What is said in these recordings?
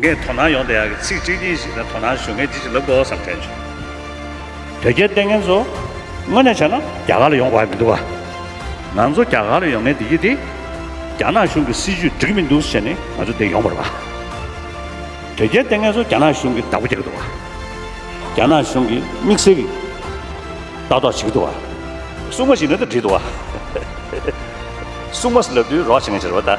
ངས་དོ་སྣང་ཡོང་བསྡད་ཡག་གི་ཚིག་གཅིག་གཉིས་ཤིག་ལ་དོ་སྣང་ཞུ་མཁན་ཅི་ཞིག་ལབ་དགོ་བསམ་དྲན་བྱུང། དོལ་རྒྱལ་བསྟེན་མཁན་ཚོ་དངོས་གནས་བྱས་ན་རྒྱ་གར་ལ་ཡོང་དགོས་ཀྱི་མི་འདུག་ག། ང་ཚོ་རྒྱ་གར་ལ་ཡོང་མཁན་འདི་ཡིད་དེ། རྒྱ་ནག་གཞུང་གི་སྲིད་བྱུས་འགྲིག་མི་འདུག་ཟེར་ནས་ང་ཚོ་འདིར་ཡོང་པར་བ། དོལ་རྒྱལ་བསྟེན་མཁན་ཚོ་རྒྱ་ནག་གཞུང་གི་བདག་པོ་བྱེད་ཀྱི་འདུག་ག། རྒྱ་ནག་གཞུང་གི་དམིགས་བསལ་གྱི་ལྟ་རྟོག་བྱེད་ཀྱི་འདུག་ག། སྲུང་མ་ཞིག་ནང་དུ་བྲིས་འདུག་ག། སྲུང་མ་ལབ་དུས་རོགས་བྱེད་མཁན་བྱེད་རོགས་ད།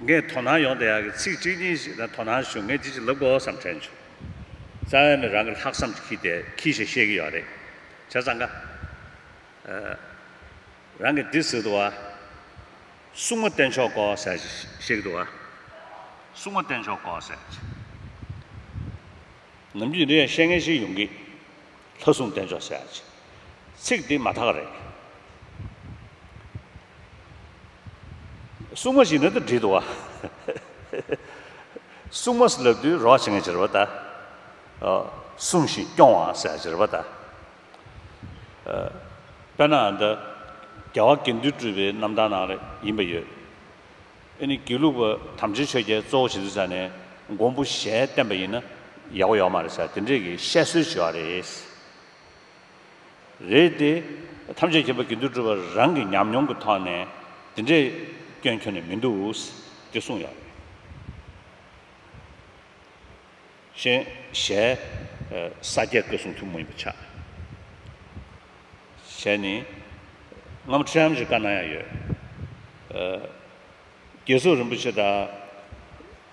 ངས་དོ་སྣང་ཡོང་དེ་ཡག་གི་ཚིག་གཅིག་གཉིས་ཞིག་དང་དོ་སྣང་ཞུ་ངས་ཅི་ཞིག་ལབ་དགོས་སམ་དྲན་བྱུང། རྩ་བའི་མི་རང་གི་ལྷག་བསམ་གྱི་ཁྱི་དེ་ཁྱི་ཞེས་བཤད་ཀྱི་ཡོད་རེད། བྱས་ཙང་ཀ། རང་གིས་འདི་ཟེར་འདུག་ཨ། སྲུང་མ་བསྟེན་ཆོག་གོ་ཟེར་བཤད་ཀྱི་འདུག་ཨ། སྲུང་མ་བསྟེན་ཆོག་གོ་ཟེར། ནམ་རྒྱུན་འདི་ཡང་བཤད་མཁན་ཞིག་ཡོང་གི། ལྷ་སྲུང་བསྟེན་ཆོག་ཟེར། ཚིག་འདི་མ་དག་རེད། སྲུང་མ་ཞིག་ནི་དུ་བྲིས་འདུག་བ། སྲུང་མ་ཟླ་དུས་རོགས་བྱེད་མཁན་ཅེས་རེ་བ་ལྟ། སྲུང་ཞིང་སྐྱོང་བ་ཟེར་ཡ་ཅེས་རེ་བ་ལྟ། དཔེར་ན་འདི་རྒྱལ་བ་དགེ་འདུན་སྤྲུལ་པའི་རྣམ་ཐར་ནང་རེ་ཡིན་པ་ཡོད། ཨེ་ནི་དགེ་ལུགས་པ་དམ་ཆོས་ཆོས་རྒྱལ་གཙོ་བོ་བྱེད་འདུག་ས་ནས་མགོན་པོ་ཞལ་བསྟན་པ་ཡིན་ན་ཡག་པོ་ཡོད་མ་རེད་ས་དེ་འདྲས་ཀྱི་བཤད་སྲོལ་བྱས་བ་རེད། རེད་དེ། ཐམས་ཅད་མཁྱེན་པ་དགེ་འདུན་གྲུབ་པ་རང་གི་ཉམས་མྱོང་གི་ཐོག་ནས་དེ་འདྲའི་སྐྱོན་ཁྱོན་ནས་མི་འདུག་ཅེས་གསུངས་ཡོད། ཞེས་ཞལ། ས་སྐྱའི་བཀའ་སྲུང་ཐུན་མོང་ཡིན་པ་ཆགས། ཞལ་ནི། སྔ་མོ་ཁྲི་རམ་ཞེས་བཀའ་གནང་ཡང་ཡོད། བརྒྱད་སོགས་རིན་པོ་ཆེ་དང།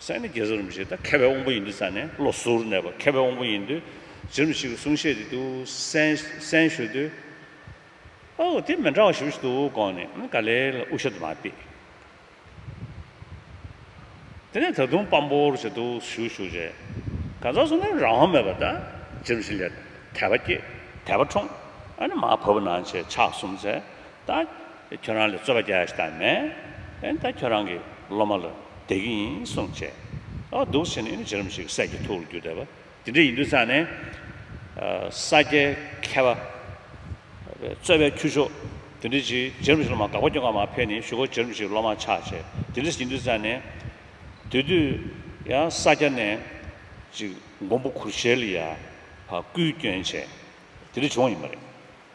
སྲས་ནི་རྒྱལ་བཟོ་རིན་པོ་ཆེ་དང་ཁ་བའི་དབང་པོ་ཡིན་དུས་ས་ནས་བློ་གཟུར་ནས་པ་ཁ་བའི་དབང་པོ་ཡིན་དུས་རྗེ་རིན་པོ་ཆེ་གི་གསུང་བཤད་དེ་དུ་སན་ཞུ་དུས། ཨོ་དེ་མི་འདྲ་བ་ཞིག་འདུག་དགོངས་ནས་ཨ་ག་ལེར་དབུ་ཞྭ་དུ་མ་བཏེགས། དེ་ནས་ད་དུང་དཔང་པོར་བྱེད་དུ་ཞུ་ཞུ་རྗེས། ག་ཚོད་སོང་ནས་རང་དབང་མེད་པར་ད་རྗེ་རིན་པོ་ཆེ་ལས་དད་པ་སྐྱེས་དད་པ་འཁྲུངས། ཨ་ནི་མ་བབས་ན་བྱས་ཕྱག་གསུམ་མཛད། ད་ཁྱོད་རང་ལ་རྩོད་པ་རྒྱག་ས་མེད། ད་ཁྱོད་རང་གི་སློབ་མ་ལ་དད་ཀྱི་ཡིན་གསུངས་བྱས། ཨ་འདུག་བྱས་ནས་ཨེ་ན་བྱས་རིམ་ཞིག་ས་སྐྱའི་ཐུགས་ལ་རྒྱུ་བསྡད་པ་དེ་འདྲ་ཡིན་དུས་ཚར་ནས། ས་སྐྱའི་མཁས་པ། རྩོད་པའི་ཁྱུ་མཆོག་དེ་འདྲ་ཞིག་བྱས་རིམ་ཞིག་སློབ་མ་དགག་པ་སྐྱོན་འགའ་མ་ཕེབས་ནས་ཞུ་སྒོ་བྱས་རིམ་ཞིག་སློབ་མ་ཆགས་བྱས་དེ་འདྲ་ཞིག་ཡིན་དུས་ཚར་ནས། དེ་དུས་ཡང་ས་སྐྱ་ནས་ཅིག་མགོན་པོ་གུར་ཞལ་ལ་ཡ་བཀུའི་སྐྱོན་བྱས་དེ་འདྲ་བྱུང་བ་ཡིན་པ་རེད།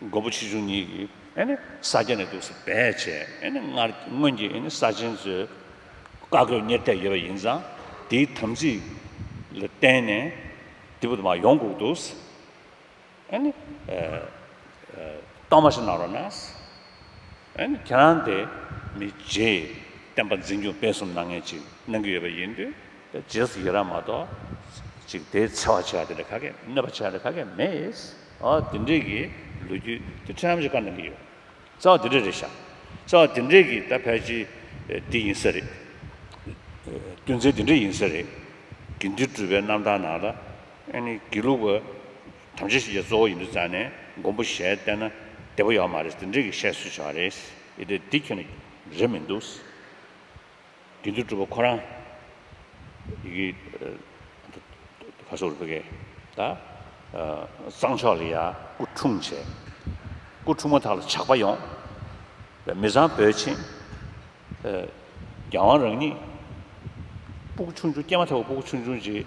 མགོ་བོ་ཆེ་ཆུང་གཉིས་ཀྱིས་ས་སྐྱ་ནས་འདུག་སེ་སྦས་བྱས། སྔར་སྔོན་གྱི་ས་ཆེན་ཚོའི་བཀའ་བཀོད་གཉེར་ཐལ་ཡོད་པ་ཡིན་ཙང་དེའི་དམ་ཚིག་ལ་བརྟེན་ནས་དེ་བུ་དུ་མ་ཡོང་བསྒུགས་འདུག་སེ། གཏོར་མ་ཞིག་གནང་རོགས་གནང། ཁྱེད་རང་དེ་མི་རྗེ་བསྟན་པ་འཛིན་སྐྱོང་སྤེལ་གསུམ་གནང་མཁན་ཅིག་གནང་གི་ཡོད་པ་ཡིན་དུས་དེ་རྗེས་སུ་ཡི་རང་མ་གཏོགས་ཅིག་དེའི་འཚེ་བ་བྱེད་པ་དེ་ལས་ག་གེ་གནོད་པ་བྱེད་པ་དེ་ག་གེ་མེད། ཨོ་དེ་འདྲས་ཀྱི་ལོ་རྒྱུས་དེ་ཁྲམ་ཞིག་བཀར་གནང་གི་ཡོད། རྩ་བ་དེ་འདྲས་རེད་ཤག་རྩ་བ་དེ་འདྲས་ཀྱི་ད་ཕལ་ཆེ་དེ་ཡིན་ས་རེད། དོན་ཚན་དེ་འདྲས་ཡིན་ས་རེད། དགེ་འདུན་གྲུ་པའི་རྣམ་ཐར་ནང་ལ་ཨེ་ནི་དགེ་ལུགས་པ། དམ་བཅའ་ཞིག་ཀྱང་གཙོ་བོ་ཡིན་དུ་བཙལ་ནས་མགོན་པོ་ཞལ་བལྟས་ན་བདེ་པོ་ཡོད་མ་རེད་ཟེར་འདྲེ་གིས་བཤད་སྲོལ་བྱུང་བ་རེད། ཨེ་དེ་འདི་ཁྱོད་ནས་རེད་མི་འདུག། དུས་འདུག་སྤྲུལ་པ་ཁོ་རང། ཡི་གེ། ཁ་སོ་རུ་ཀའི། ད། གཙང་ཕྱོགས་ལ་ཡ། སྐུ་འཁྲུངས་བྱས། སྐུ་འཁྲུངས་མ་ཐག་ལ་ཇག་པ་ཡོང། མི་བཟང་བོས་ཕྱིན། རྒྱལ་དབང་རང་ཉིད། སྤུ་གུ་ཆུང་ཆུང་སྐྱེས་མ་ཐག་པའི་སྤུ་གུ་ཆུང་ཆུང་ཅིག།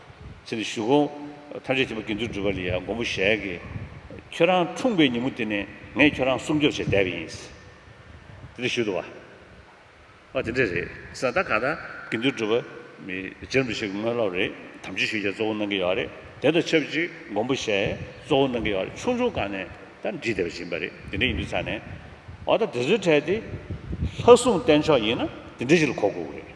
ཚེ་འདི་བཞུགས་གོ། ཐམས་ཅད་ཐིམ་པས་དགེ་འདུན་སྒྲུབ་པ་ལ་ཡང་མགོན་པོ་ཞལ་གྱིས། ཁྱོད་རང་འཁྲུངས་པའི་ཉིན་མོ་དེ་ནས་ངས་ཁྱོད་རང་སྲུང་སྐྱོབ་བྱས་བསྡད་པ་ཡིན། དེ་འདྲ་ཞུས་འདུག་བ། ཨོ་དེ་འདྲ་རེད་ས་ད་ག་ད་དགེ་འདུན་སྒྲུབ་པ། རྗེ་རིན་པོ་ཆེ་གི་དངོས་སློབ་རེད་དམ་ཆོས་ཞུ་རྒྱ་གཙོ་བོ་གནང་གི་ཡོད་རེད་དེ་དང་ཆབས་ཅིག་མགོན་པོ་ཞལ་གཙོ་བོ་གནང་གི་ཡོད་རེད་ཆུང་ཆུང་སྒང་ནས་ད་འབྲི་བསྡད་པ་བྱིན་པ་རེད་དེ་འདྲ་ཡིན་དུས་ཚར་ནས། ཨོ་ད་དེ་ཚོའི་གྲས་དེ། ལྷ་སྲུང་བསྟེན་ཆོག་ཡིན་ན་དེ་འདྲ་ཞིག་ལ་གོ་དགོས་ཀྱི་རེད།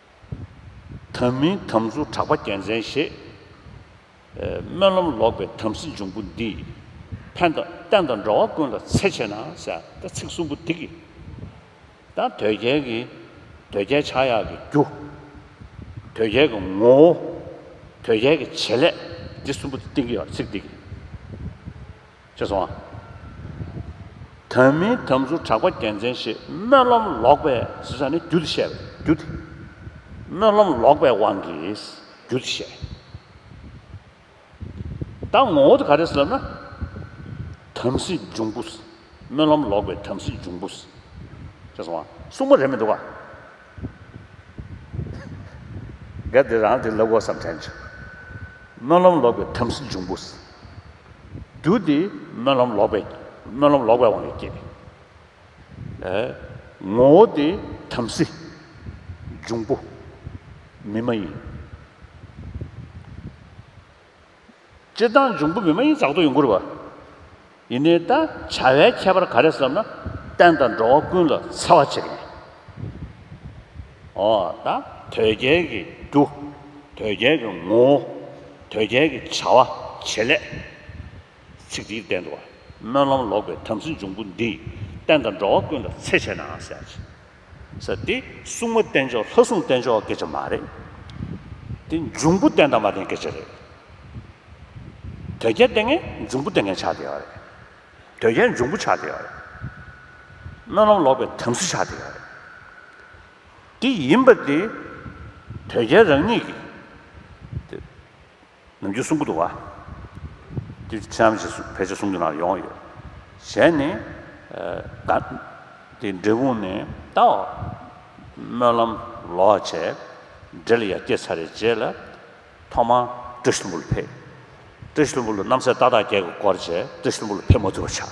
དམ་མིན་དམ་གཟུགས་གྲགས་པ་རྒྱལ་མཚན་ཞེས། སྨོན་ལམ་ལོག་པའི་དམ་སྲི་འབྱུང་པོ་འདི། ཕན་དང་བསྟན་དང་འགྲོ་བ་ཀུན་ལ་འཚེ་བྱེད་ན། ཟེར་ཚིག་གསུམ་པོ་འདི་གི། དང་དོལ་རྒྱལ་གྱི། དོལ་རྒྱལ་ཕྱག་གཡག་གི་རྒྱུ། དོལ་རྒྱལ་གྱི་ངོ་བོ། དོལ་རྒྱལ་གྱི་བྱེད་ལས། འདི་གསུམ་པོ་འདི་སྟེང་གི་ཚིག་འདི་གི། ཅེས་སོ། དོན་མིན་དམ་ཚུལ་གྲགས་པ་རྒྱལ་མཚན་ཞེས་སྨོན་ལམ་ལོག་པའི་ཟེར་ས་ནི་རྒྱུད་དུ་བཤད། རྒྱུད་དེ། སྨོན་ལམ་ལོག་པའི་དབང་གིས་རྒྱུད་དུ་བཤད། ད་ངོ་བོ་དེ་ག་རེད་ཟེར་ན། དམ་སྲི་འབྱུང་པོ། སྨོན་ལམ་ལོག་པའི་དམ་སྲི་འབྱུང་པོ། ཅེས་སོ། སྲུང་མ་རེད་མི་འདུག་ག། གལ་ཏེ་རང་དེ་ལ་དབུ་བསམ་དྲན་བྱེད། སྨོན་ལམ་ལོག་པའི་དམ་སྲི་འབྱུང་པོ་སྲིད། རྒྱུ་འདི་སྨོན་ལམ་ལོག་པས་སྨོན་ལམ་ལོག་པའི་དབང་གིས་བསྐྱེད། ངོ་བོ་དེ་དམ་སྲི་འབྱུང་པོ་མི་མ་ཡིན། སྤྱིར་བཏང་འབྱུང་པོ་མི་མ་ཡིན་བཙག་ཏུ་ཡོང་ཁུར་བ། ཡིན་ནའི་ད་བྱ་བའི་ཁྱད་པར་ག་རེ་བསམ་ན་བསྟན་དང་འགྲོ་བ་ཀུན་ལ་འཚེ་བ་བྱེད་མཁན། འོ་ད་དོལ་རྒྱལ་གྱི་རྒྱུ། དོལ་རྒྱལ་གྱི་ངོ་བོ། དོལ་རྒྱལ་གྱི་བྱ་བ་བྱེད་ལས། ཚིག་འདིའི་སྟེང་དུ་བ། སྨོན་ལམ་ལོག་པའི་དམ་སྲི་འབྱུང་པོ་འདིས་བསྟན་དང་འགྲོ་བ་ཀུན་ལ་འཚེ་བྱས་ནའང་ཟད། ས་དེ་སྲུང་མ་བསྟེན་ཆོག་ལྷ་སྲུང་བསྟེན་ཆོག་སྐད་ཆ་མ་རེད། དེ་འབྱུང་པོ་བསྟེན་དང་མ་བསྟེན་སྐད་ཆ་རེད། དོལ་རྒྱལ་བསྟེན་མཁན་འབྱུང་པོ་བསྟེན་མཁན་ཆགས་བསྡད་ཡོད་རེད། དོལ་རྒྱལ་འབྱུང་པོ་ཆགས་བསྡད་ཡོད་རེད། སྨོན་ལམ་ལོག་པའི་དམ་སྲི་ཆགས་བསྡད་ཡོད་རེད། དེ་ཡིན་པ་དེ་དོལ་རྒྱལ་རང་ཉིད་ཀྱིས། ནམ་རྒྱུན་གསུང་གི་འདུག་བཀྲིས་ཆེ་ཨམ་ཞེས་ཕལ་ཆེར་གསུང་རྒྱུ་ན་ཡོང་ཡོད། གཞན་ནི། དེ་འབྲས་སྤུངས་ནས་ད་འོག་སྨོན་ལམ་ལོག་བྱས། འབྲས་ལ་ཡར་སྐྱེལ་ཚར་རེ་རྗེས་ལ། ཐོག་མར་བཀྲིས་ལྷུན་པོ་ལ་ཕེབས། བཀྲིས་ལྷུན་པོ་ལ་རྣམ་སྲས་ཏག་ཏག་བསྐྱལ་གི་བསྐོར་བྱས་བཀྲིས་ལྷུན་པོ་ལ་ཕེབས་མ་ཐུབ་པ་ཆགས།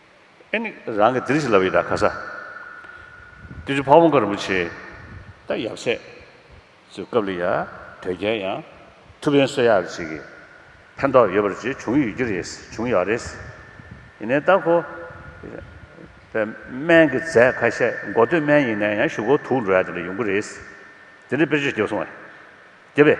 ཨེ་ནི་རང་གི་དིར་ཞི་ལ་བི་ད་ག་ས། ཏི་ཇུ་བྷ་བུ་མཁའ་རིན་པོ་ཆེའི། ད་ཡབ་སྲས། ཚུལ་སྐབས་ལ་ཡང་དོལ་རྒྱལ་ཡང། ཐུ་བྷན་བསོད་ཡར་བྱེད་ཀྱི། ཕན་ཐོགས་ཡོད་པར་བྱས་བྱུང་ཡོད་ཀྱི་རེད། བྱུང་ཡོད་རེད། ཡིན་ནའི་ད་ཁོ། བའི་སྨན་གྱི་རྫས་ཁ་ཤས་མགོ་སྟོད་སྨན་ཡིན་ནའི་ཡང་ཞུ་སྒོ་དུག་འགྲོ་ཡ་དེ་ལ་ཡོང་གི་རེད། དེ་འདྲའི་དཔེར་བརྗོད་བརྒྱབ་སོང་བས། བརྒྱབ་པས།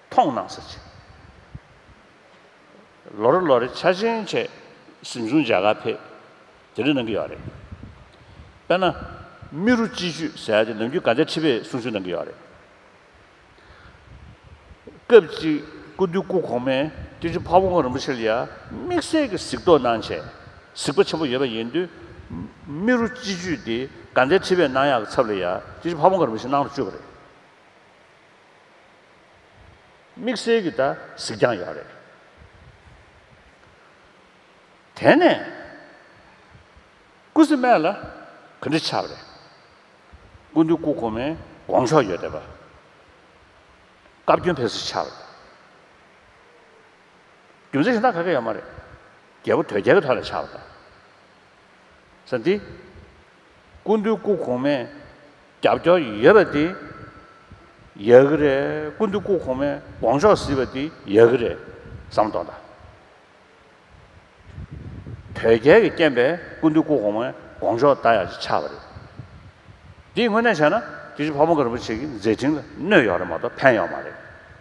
མཐོང་སྣང་ས་ཆེ། ལོ་རེ་ལོ་རེ་འཆར་ཅན་ཆེ། གཟིམ་ཆུང་འཇའ་གར་འཕེལ། དེ་རིང་གནང་གི་ཡོད་རེད། དཔེར་ན། རྨི་རུ་སྤྱི་ཆུས་ཟེར་དེ་ནམ་རྒྱུན་ག་འདྲའི་ཁྲི་པས་གསུང་ཆོས་གནང་གི་ཡོད་རེད། སྐབས་ཅིག་སྐུ་སྟོད་སྐུ་གོང་མས་སྐྱེས་ཆུང་འཕགས་བོ་དབོན་རིན་པོ་ཆེ་ལ་ཡ་དམིགས་བསལ་གྱི་གཟིགས་རྟོག་གནང་ཆེད་གཟིགས་པ་ཆེན་པོ་ཡོད་པ་ཡིན་དུས། རྨི་རུ་སྤྱི་ཆུས་དེ་ག་འདྲའི་ཁྲི་པས་གནང་ཡག་གི་ཚབ་ལ་ཡ་སྐྱེས་ཆུང་འཕགས་བོ་དབོན་རིན་པོ་ཆེ་གནང་རུ་བཅུག་པ་རེད། དམིགས་བསལ་གྱི་ད་གཟིགས་ཀྱང་ཡག་རེད། དེ་ནས། སྐུ་སི་སྨད་ལ་ག་འདྲི་ཆགས་རེད། སྐུ་འདུས་སྐུ་གོང་མའི་དགོངས་ཕྱོགས་ཡོད་བསྡད་པ། བཀའ་བཀྱོན་ཕེབས་སུ་ཆགས་རེད། རྒྱུ་མཚན་ཞེ་ན་ག་གེ་ཡོད་མ་རེད། རྒྱལ་པོ་དོལ་རྒྱལ་གྱི་ཐོག་ལ་ཆགས་པ་དང། ཟེར་ཏེ། སྐུ་མདུན་སྐུ་གོང་མས་རྒྱབ་སྐྱོར་ཡོད་པ་དེ་ཡག་གི་རེད། སྐུ་མདུན་སྐུ་གོང་མས་དགོངས་ཕྱོགས་གཟིགས་པ་དེ་ཡག་གི་རེད་བསམ་མདོག་མདའ། དོལ་རྒྱལ་གྱི་རྐྱེན་པས་སྐུ་མདུན་སྐུ་གོང་མའི་དགོངས་ཕྱོགས་མདའ་ཡག་ཅིག་ཆགས་པ་རེད། འདི་དངོས་གནས་བྱས་ན་དེ་བཞིན་ཕ་བོང་ཀ་རིན་པོ་ཆེ་གི་མཛད་འཕྲིན་ལ་གནོད་ཡོང་རེད་མ་གཏོགས་ཕན་ཡོང་མ་རེད།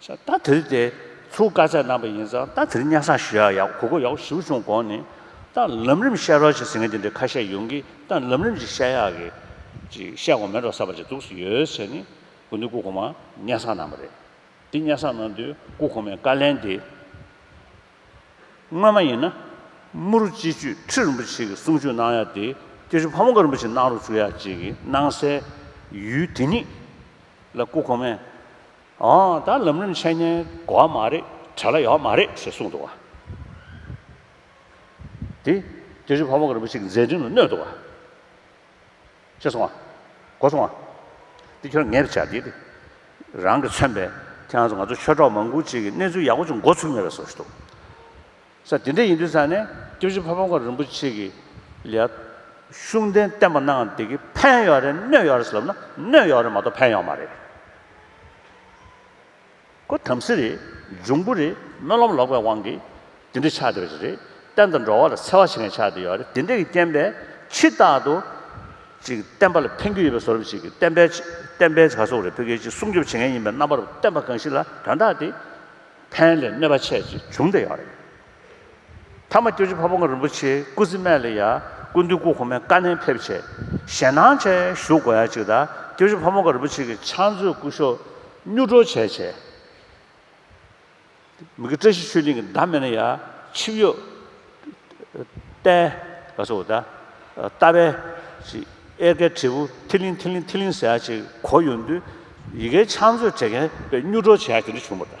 ཤ་སྟག་དེར་དེ་ཚོའུ་དཀར་ཆག་གནང་པ་ཡིན་ཙང་སྟག་དེར་གཉའ་ས་ཞུ་ཡག་ཡག་གོ་གོ་ཡག་ཞུ་བྱུང་དགོངས་ནས་སྟག་ལམ་རིམ་བཤད་རོགས་ཅིག་ཟེར་མཁན་དེ་འདྲའི་ཁ་ཤས་ཡོང་གི་སྟག་ལམ་རིམ་ཅིག་བཤད་ཡག་གི་ཅིག་བཤད་དགོངས་མེད་རོགས་ས་པ་ཅིག་འདུག་སུ་ཡོད་ཟེར་ནས་དགོན་སྡེ་སྐུ་གོང་མ་གཉའ་ས་གནང་པ་རེད་དེ་གཉའ་ས་གནང་དུས་སྐུ་གོང་མས་བཀའ་ལན་དེ། སྔོན་མ་ཡིན་ན། དམུ་རུ་སྤྱི་ཆོས་ཁྲི་རིན་པོ་ཆེ་གི་གསུང་ཆོས་གནང་ཡ་དེ་སྐྱོ་ཆུ་ཕ་མོ་ཀ་རིན་པོ་ཆེ་གནང་རོགས་བྱུ་ཡ་ཅིག་གི་གནང་གསལ། ཡུལ་དེ་ཉིད་ལ་སྐུ་གོང་མས། འོང་ད་ལམ་རིམ་འཆད་ཉན་གོ་བ་མ་རེད་གྲ་ལ་ཡོག་མ་རེད་ཞེས་གསུངས་འདུག་བ། དེ་སྐྱོ་ཆུ་ཕ་མོ་ཀ་རིན་པོ་ཆེ་གི་མཛད་འཕྲིན་ལ་གནོད་འདུག་བ། ཤེས་སོང་ང། གོ་སོང་ང། འདི་ཁྱོད་ངེས་པར་བྱ་དགོས་ཏེ། རང་གིས་མཚོན་པའི་ཁྱེད་རང་ཚོ་ང་ཚོ་ཆོས་གྲོགས་མང་པོ་ཅིག་གིས་གནས་ཚུལ་ཡག་པོ་ཅིག་འགོ་ཚུགས་མེད་པ་བཟོ་ཞིག་འདུག་ས་དེ་འདྲ་ཡིན་དུས་ས་ནས་སྐྱབས་རྗེ་ཕ་བོང་ཁ་རིན་པོ་ཆེ་གིས་ལིའ། ཤུགས་ལྡན་བསྟན་པ་གནང་བདེ་གི་ཕན་ཡོད་རེད་གནོད་ཡོད་རེད་ཟེར་ལབ་ན་གནོད་ཡོད་རེད་མ་གཏོགས་ཕན་ཡོད་མ་རེད། ཁོ་དམ་སྲི་རེད། འབྱུང་པོ་རེད། སྨོན་ལམ་ལོག་པའི་དབང་གིས། དེ་འདྲའི་ཕྱག་དེ་རེད། བསྟན་དང་འགྲོ་བ་ལ་འཚེ་བ་བྱེད་མཁན་ཕྱག་དེ་ཡོད་རེད། དེ་འདྲས་ཀྱི་རྐྱེན་པས་ཕྱི་རྟག་ཏུ། ཅིག་བསྟན་པ་ལ་ཕན་རྒྱུ་ཡོད་པའི་བཟོ་རིམ་ཞིག་གིས་བསྟན་པའི། བསྟན་པའི་བྱ་སོག་རེད་བོད་རྒྱལ་སྤྱི་སྲུང་སྐྱོབ་བྱེད་མཁན་ཡིན་པའི་རྣམ་པར་བསྟན་པ་གང་ཞིག་ལ་དོན་དག་དེ། ཕན་ལས་གནོད་པ་ཆེ་ཞིག་འབྱུང་བསྡད་ཡོད་རེད། ཐ་མ་སྐྱོ་ཆུ་ཕ་བོང་རིན་པོ་ཆེའི་སྐུ་ཚེ་སྨད་ལ་ཡ་སྐུ་འདུས་སྐུ་གོང་མའི་བཀའ་ནན་ཕེབས་ཆེད་ཞལ་སྣང་ཆེན་ཞུ་དགོས་ཡ་གཅིག་ད་སྐྱོ་ཆུ་ཕ་བོང་རིན་པོ་ཆེ་གི་ཕྱག་མཛོད་སྐུ་གཞོགས་སྙུག་གྲོ་བྱས་ཆེད་མི་གི་བཀྲ་ཤིས་ཆོས་གླིང་གི་མདའ་མེད་ན་ཡ་ཆིབས་གཡོག་རྟའི་ག་ཚོ་ད་རྟ་བས་ཅིག་གཡེར་ཁའི་དྲིལ་བུ་ཐིག་ལིང་ཐིག་ལིང་ཐིག་ལིང་ཟེར་ཡ་གཅིག་གོ་ཡོང་དུས་ཡི་གེའི་ཕྱག་མཛོད་བྲེ་མཁན་པས་སྙུག་གྲོ་བྱས་ཡ་གཅིག་འདི་བྱུང་བ་ད།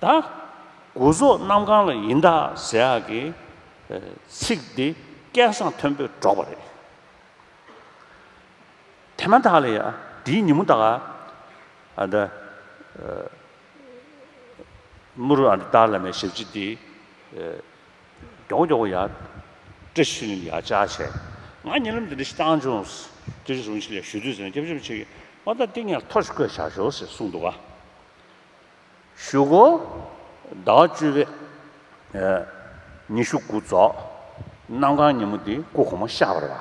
ད་དགུ་སོགས་རྣམས་གང་ལ་ཡིན་དག་ཟེར་ཡག་གི་ཚིག་འདི་སྐད་གསང་མཐོན་པོས་སྒྲོག་པ་རེད། དེ་མ་ཐག་ལ་ཡང་དེའི་ཉིན་མོ་དག་ཨ་ད་མུ་རུ་ཨ་ད་ཏར་ལ་མའི་ཞབས་ཕྱི་འདི་མགྱོགས་མགྱོགས་ཡག་བཀྲ་ཤིས་ལིང་ཡག་བཅའ་བྱས། ང་ཉེ་ལམ་དེ་འདྲ་ཞིག་བཏང་བྱུང། དེ་རིང་ཟུང་ཞིག་ལས་ཞུ་དུས་ཟེར་ན་སྐྱབས་སེམས་ཆེ་གི་ཨོ་ད་ཏིང་ངེར་ཐོ་ཞིག་བཀོད་བཞག་ཞོར་ཟེར་གསུངས་འདུག་ག། བཞུགས། ཟླ་བ་བཅུ་པའི་ཉི་ཤུ་དགུ་རྫོགས། གནམ་གང་ཉིན་མོ་འདི་སྐུ་གོང་མ་ཤར་བར་བ།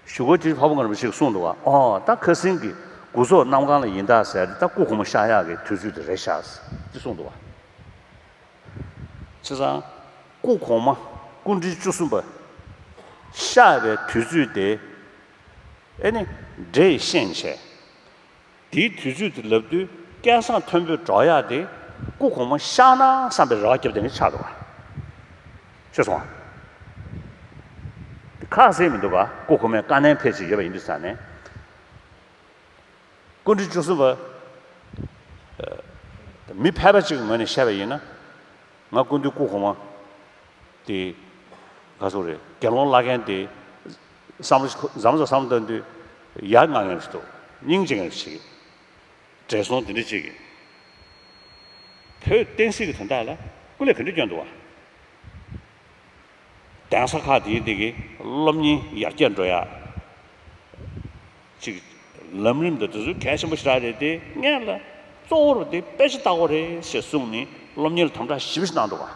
བཞུགས། དེ་བར་བ་ངར་བ་ཞིག་གསུངས་འདུག་བ། ཨོ། ད་ཁ་སིང་གི་དགུ་རྫོགས་གནམ་གང་ལ་ཡིན་ད་ཟེར། ད་སྐུ་གོང་མ་ཤར་ཡག་གི་དུས་ཚོད་དེ་རེད་ཤག། ཅེས་གསུངས་འདུག་བ། ཚེ་བཟང། སྐུ་གོང་མ་སྐུ་འཕྲེང་བཅུ་གསུམ་པ། ཤར་བའི་དུས་ཚོད་དེ། ཨེ་ནི། འདྲེ་ཡི་ཤན་ཕྱེ། དེའི་དུས་ཚོད་དེ་ལབ་དུས་སྐལ་བཟང་མཐོན་པོས་གྲོགས་གཡག་དེ་སྐུ་གོང་མ་ཤར་ནའང་བསམ་པའི་རོགས་སྐྱབས་དེ་ནི་ཆགས་འདུག་ག་ཤོད་སོང་ཨ། དེ་ཁ་གསལ་མི་འདུག་ག་སྐུ་གོང་མའི་བཀའ་ནན་ཕེབས་ཆེད་ཡོད་པ་ཡིན་དུས་ས་ནས། སྐུ་མགྲོན་བཅུ་གསུམ་པ། མི་ཕལ་པ་གཅིག་གི་ངོས་ནས་བཤད་པ་ཡིན་ན། ང་སྐུ་མདུན་སྐུ་གོང་མ་དེ། ག་སོང་རེད་དགེ་སློང་བླ་རྒན་དེ། བསམ་བཞིན་ཁོ་ཟམ་ཟ་ཟམ་བཏོན་དུས། ཡར་ངང་ངེར་འདུག་སྙིང་རྗེ་ངེར་བྱེད། བགྲེས་སོང་དེ་འདྲའི་གཅིག་གིས། བོད་བསྟན་སྲིད་ཀྱི་དོན་དག་ལ་སྐུ་ལས་ག་འདྲའི་སྐྱོ་འདུག་ཨང། གདན་ས་ཁག་དེའི་སྟེང་གི་སློབ་གཉེར་ཡར་རྒྱས་འགྲོ་ཡག་ཅིག་ལམ་རིམ་དུ་དེ་ཚོ་གལ་ཆེན་པོ་ཞེ་དྲག་རེད་དེ་ངས་ལ་གཙོ་བོར་དེ་དཔེ་ཆ་ལྟ་སྐོར་རེད་ཞེས་གསུངས་ནས་སློབ་གཉེར་དམ་དྲག་ཞིབ་ཞིག་གནང་འདུག་ཨང།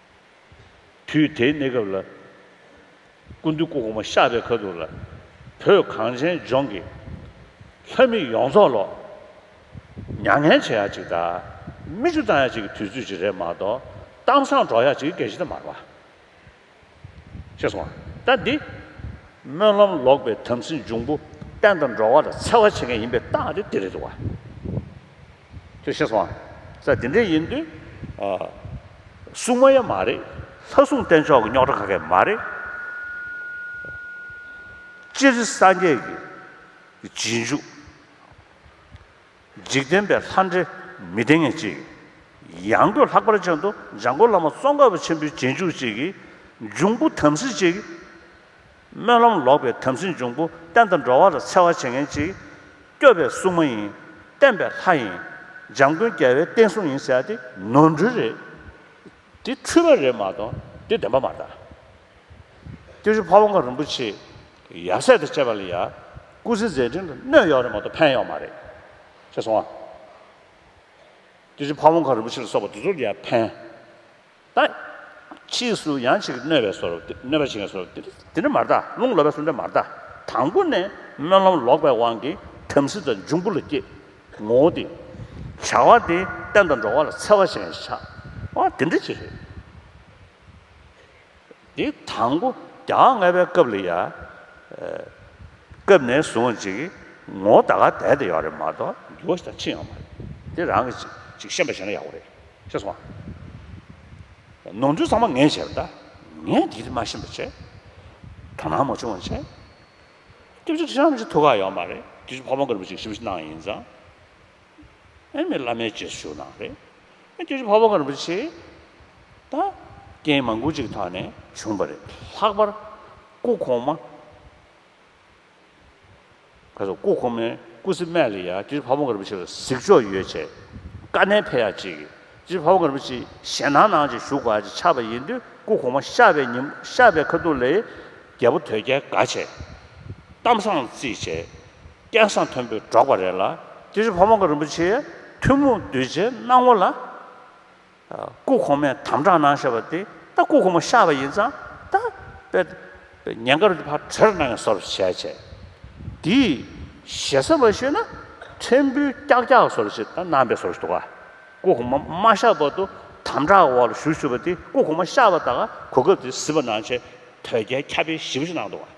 དུས་དེའི་གནས་སྐབས་ལ། སྐུ་མདུན་སྐུ་གོང་མ་ཤག་པའི་ཁ་ཐུག་ལ། བོད་གངས་ཅན་ལྗོངས་ཀྱི། ལྷ་མི་ཡོངས་རྫོགས་ལོག། མྱ་ངན་བྱེད་ཡག་ཅིག་དང། མི་ཆུ་བཏང་ཡག་ཅིག་གི་དུས་ཚོད་ཅིག་རེད་མ་གཏོགས། གཏམ་བཟང་སྒྲོག་ཡག་ཅིག་གི་གལ་ཆེ་ད་མ་རེད། ཤེས་སོང་ང་ད་འདི། སྨོན་ལམ་ལོག་པའི་དམ་སྲི་འབྱུང་པོ། བསྟན་དང་འགྲོ་བ་ལ་འཚེ་བ་བྱེད་མཁན་ཡིན་པའི་རྟགས་དེ་དེ་རེད་འདུག་བ། ཅེས་ཤེས་སོང། ས་དེ་འདྲས་ཡིན་དུས། སྲུང་མ་ཡང་མ་རེད། ལྷ་སྲུང་བསྟེན་ཆོག་གི་རྙོག་དྲ་ཁ་ཁས་མ་རེད། སྤྱིར་སངས་རྒྱས་ཀྱི་རྗེས་འཇུག། འཇིག་རྟེན་པའི་ལྷ་འདྲེ་མི་བསྟེན་ངེས་ཅིག། ཡང་སྒོས་ལྷག་པར་ཅན་དུ་འཇང་དགོན་བླ་མ་ཙོང་ཁ་པ་ཆེན་པོའི་རྗེས་འཇུག་ཅིག་གིས་འབྱུང་པོ་དམ་སྲི་ཅིག་སྨོན་ལམ་ལོག་པའི་དམ་སྲི་འབྱུང་པོ་བསྟན་དང་འགྲོ་བ་ལ་འཚེ་བ་བྱེད་མཁན་གཅིག། སྐྱོབ་པའི་སྲུང་མ་ཡིན། བསྟན་པའི་ལྷ་ཡིན། འཇམ་མགོན་རྒྱལ་བའི་བསྟན་སྲུང་ཡིན་ཟེར་ཏེ་ནོར་འཁྲུལ་རེད། འདི་འཁྲུལ་བ་རེད་མ་གཏོགས་འདི་བདེན་པ་མ་རེད། ཀྱེ་ཧྲུལ་ཕ་བོང་ཁ་རིན་པོ་ཆེས་ཡབ་སྲས་དང་བཅས་པ་ལ་ཡ། སྐུ་ཚེ་མཛད་འཕྲིན་ལ་གནོད་ཡོག་རེད་མ་གཏོགས་ཕན་ཡོག་མ་རེད། ཤེས་སོང་ཨ། ཀྱེ་ཧྲུལ་ཕ་བོང་ཁ་རིན་པོ་ཆེ་ལ་སོགས་པ་འདི་ཚོར་ཡ་ཕན། ལྟ། ཕྱིས་སུ་ཡང་ཅིག་གནོད་པའི་སོར་གནོད་པ་ཞིག་ངས་སོར་དེ་འདྲ་མ་བལྟ་རླུང་ལོག་པའི་སོར་འདྲ་མ་བལྟ་དང་པོ་ནས་སྨོན་ལམ་ལོག་པའི་དབང་གིས་དམ་སྲི་དང་འབྱུང་པོ་ལ་སྐྱེ། ངོ་བོ་དེ། བྱ་བ་དེ་བསྟན་དང་འགྲོ་བ་ལ་འཚེ་བ་ཞིག་ངས་བྱ། དེ་འདྲ་ཅི་རེད། དེའི་དང་པོ་རྒྱ་དབང་ལྔ་པའི་སྐབས་ལ་ཡང། སྐབས་ནས་བཟུང་ཅིག་ངོ་བོ་ད་ག་དད་དེ་ཡོད་རེད་མ་གཏོགས་འགྱུར་བ་ཞིག་དང་ཕྱིན་ཡོད་མ་རེད། དེ་རང་གི་ཅིག་ཤེས་པ་བྱས་ན་ཡག་པོ་རེད་ཤེས་སོང་ང། ནོར་འཁྲུལ་ཚང་མ་ངས་བྱས་པ་འདྲ། ངས་དེ་རིགས་མ་ཤེས་པ་བྱས། དོ་སྣང་མ་བྱུང་བ་བྱས། སྐྱབས་རྗེ་ཁྲི་བྱང་གི་ཅིག་ཐུགས་ཁག་ཡོད་མ་རེད། དེ་བཞིན་ཕ་བོང་དཀར་པོ་ཅིག་ཞིབ་ཕྱི་གནང་ཡིན་ཙང། ཨེ་མི་བླ་མའི་རྗེས་སུ་ཞུགས་གནང་རེད། ཀྱེ་ཧྲི་བྷ་བྷ་ག་རིན་པོ་ཆེ་དང། རྐྱེན་མང་པོ་ཅིག་ཐོག་ནས་བྱུང་བ་རེད། ལྷག་པར་སྐུ་གོང་མ། ཁ་སང་སྐུ་གོང་མའི་སྐུ་ཚེ་སྨད་ལ་ཡང་ཀྱེ་ཧྲི་བྷ་བྷ་ག་རིན་པོ་ཆེ་ལ་གཟིགས་ཕྱོགས་ཡོད་ཆེད་དཀའ་གནད་འཕེལ་ཡག་ཅིག་ཀྱེ་ཧྲི་བྷ་བྷ་ག་རིན་པོ་ཆེ་ཞལ་ནང་ནང་ཅིག་བཞུགས་པ་ཅིག་ཆགས་པ་ཡིན་དུས་སྐུ་གོང་མ་ཤར་བའི་ཉིན་ཤར་བའི་ཁ་ཐུག་ལས་རྒྱལ་པོ་དོལ་རྒྱལ་དགའ་ཆེད་གཏམ་བཟང་བརྩིས་བྱས། སྐལ་བཟང་མཐོན་པོས་སྒྲོགས་པ་རེད་ལ། དེ་བཞིན་བྷ་བང་ག་རིན་པོ་ཆེའི་ཐུན་མོང་གདུལ་བྱའི་སྣང་ངོ་ལ། སྐུ་གོང་མས་དམ་དྲག་གནང་ཞེས་པ་དེ་ད་སྐུ་གོང་མ་ཤར་བ་ཡིན་ཙང་ད་དཔེ་དེ་ཉེན་ཁར་འདི་ཕར་བྲེལ་གནང་ཡང་སོ་རེ་བྱས་བྱས། དེས་ཞེ་ས་མ་ཤེས་ན་ཕྲན་བུའི་སྐྱག་སྐྱག་སོ་རེ་བྱས་ད་གནང་པས་སོ་རེ་འདུག་ཨ། སྐུ་གོང་མ་མ་ཤར་བར་དུ་དམ་དྲག་འོག་ལ་བཞུགས་ཞུས་པ་དེ་སྐུ་གོང་མ་ཤར་བ་དག་གོ་སྐབས་དེ་གཟིགས་པ་གནང་བྱས་དོལ་རྒྱལ་ཁྱབ་སྤེལ་ཞིབ་ཕྲི་གནང་འདུག་ཨ།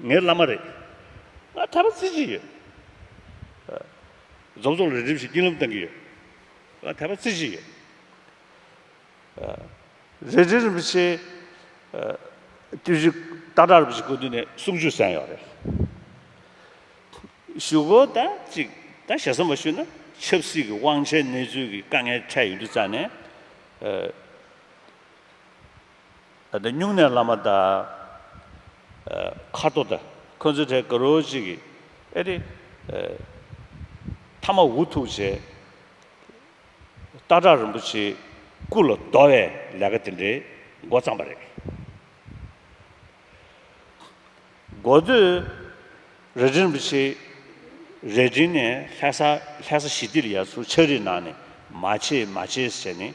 ངའི་བླ་མ་རེད། ང་གྲྭ་པ་བརྩི་བཞིན་ཡོད། རྫོང་སོགས་ལ་རེ་འབྲེལ་བྱེད་སྐྱིད་སློབ་གཏོང་གི་ཡོད། ང་དད་པ་བརྩི་བཞིན་ཡོད། རེ་འབྲེལ་རིན་པོ་ཆེ་བརྟུལ་ཞུགས་སྟག་སྒྲ་རིན་པོ་ཆེ་སྐུ་མདུན་ནས་གསུང་བརྗོད་གསན་ཡོད་རེད། ཞུ་སྒོ་དང་གཅིག་དང་ཞེ་ས་མ་ཞུས་ན་ཆབ་སྲིད་ཀྱི་དབང་ཆའི་གནས་ཚུལ་གྱི་དཀའ་ངལ་འཕྲད་ཡོད་འདུག་རྩ་ནས། ད་ལྟ་སྨྱུང་གནས་བླ་མ་བདག། མཁར་རྡོ་བདག། ཁོ་ཚོའི་གྲས་དགའ་རོགས་གཅིག་གིས། ཨེ་རེད། མཐའ་མ་འུ་ཐུག་བྱས། སྟག་བྲག་རིན་པོ་ཆེའི་སྐུ་ལ་བསྡོ་བའི་ལས་ཀ་དེ་འདྲའི་མགོ་བརྩམས་པ་རེད། མགོ་བསྡོས། རལ་གྲི་རིན་པོ་ཆེའི་རལ་གྲི་ནས་ལྷས་ས་ལྷས་ས་ཞི་བདེ་ལ་ཡར་ཚུར་ཕྱག་རིས་གནང་ནས་མ་བྱེད་མ་བྱེད་ཟེར་ནས།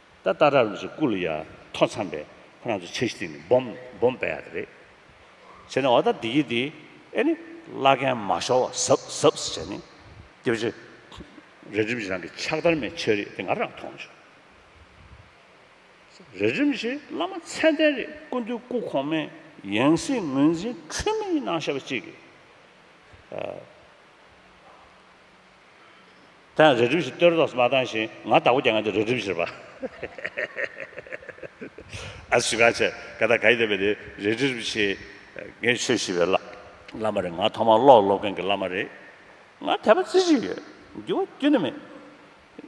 ད་ལྟ་ར་ལུག་ཚོ་སྐུ་ལ་ཡར་ཐོན་ཚང་པས་ཁོ་རང་ཚོ་ཆ་གཞི་སྟེང་ནས་སྦོམ་སྦོམ་བས་ཡག་རེད་བྱས་ནས་འོ་ད་འདི་ཡིན་འདི་ཨེ་ནི་བླ་རྒན་མ་ཤོར་བ་ཟབ་ཟབ་བྱས་ནས་རྒྱབ་ཆ་རལ་གྲིམ་གྱི་རང་གི་ཕྱག་དར་མའི་ཆོས་རིག་དེ་ང་རང་མཐོང་བྱུང། རལ་གྲིམ་ཞེས་བླ་མ་མཚན་ལྡན་རེད་སྐུ་མདུན་སྐུ་གོང་མའི་ཡང་སྲིད་ངོས་འཛིན་འཁྲུལ་མེད་ཡིན་ནང་ཤ་བ་གཅིག་གིས། ད་ཡང་རི་གྲིབ་བཞིན་སྟོད་ར་དོགས་སུ་མ་བཏང་ཞིང་ང་བདག་པོ་རྒྱ་ངན་དུ་རི་གྲིབ་བཞིར་བ། ཨ་ཟུ་ག་ཆེ་ག་ད་ག་ཡི་དེ་བས་དེ་རི་གྲིབ་བཞིན། ངས་ཆོས་ཞུས་པའི་བླ། བླ་མ་རེད་ང་ཐོག་མར་བློ་ལ་སློབ་མཁན་གྱི་བླ་མ་རེད། ང་དད་པ་རྩི་བཞིན་ཡོད། འགྱུར་བ་གཏན་ནས་མེད།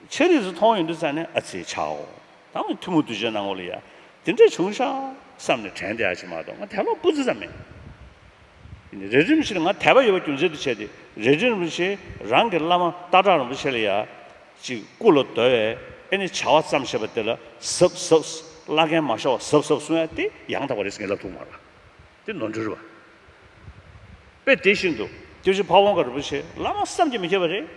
ཆེ་རིགས་སུ་མཐོང་ཡོང་དུས་ཙང་ནས་ཨ་ཙི་ཆའོ། ད་མི་ཐུ་མོ་དུས་ཆེན་ནང་ངོ་ལ་ཡ། དེ་འདྲས་བྱུང་ཤག་བསམ་ནས་དྲན་ཏེ་ཨ་ཕྱི་མ་གཏོགས་ང་དད་ལོག་སྤུ་རྩི་ཙམ་མེད། རེ་རིམ་བཞིན་ང་དད་པ་ཡོད་པ་རྒྱུ་མཚན་དུ་བྱས་ཏེ་རེ་རིམ་བཞིན་རང་གི་བླ་མ་སྟག་བྲག་རིན་པོ་ཆེ་ལ་ཡ། ཅིག་སྐུ་ལ་བརྡོལ་བས་ཨེ་ནི་བྱ་བ་བརྩམས་ཞེས་པ་དེ་ལ་ཟབ་ཟབ། བླ་རྒན་མ་ཤོག་ཟབ་ཟབ་གསུང་ཡ་དེ་ཡང་དག་པ་རེད་ཟེར་ངེས་ལབ་ཐུག་མ་ལ། དེ་ནོར་འཁྲུལ་བ། དཔེ་དེ་བཞིན་དུ། དེ་བཞིན་ཕ་བོང་ཁ་རིན་པོ་ཆེ་བླ་མ་བསམ་གྱིས་མི་ཁྱབ་པ་རེད།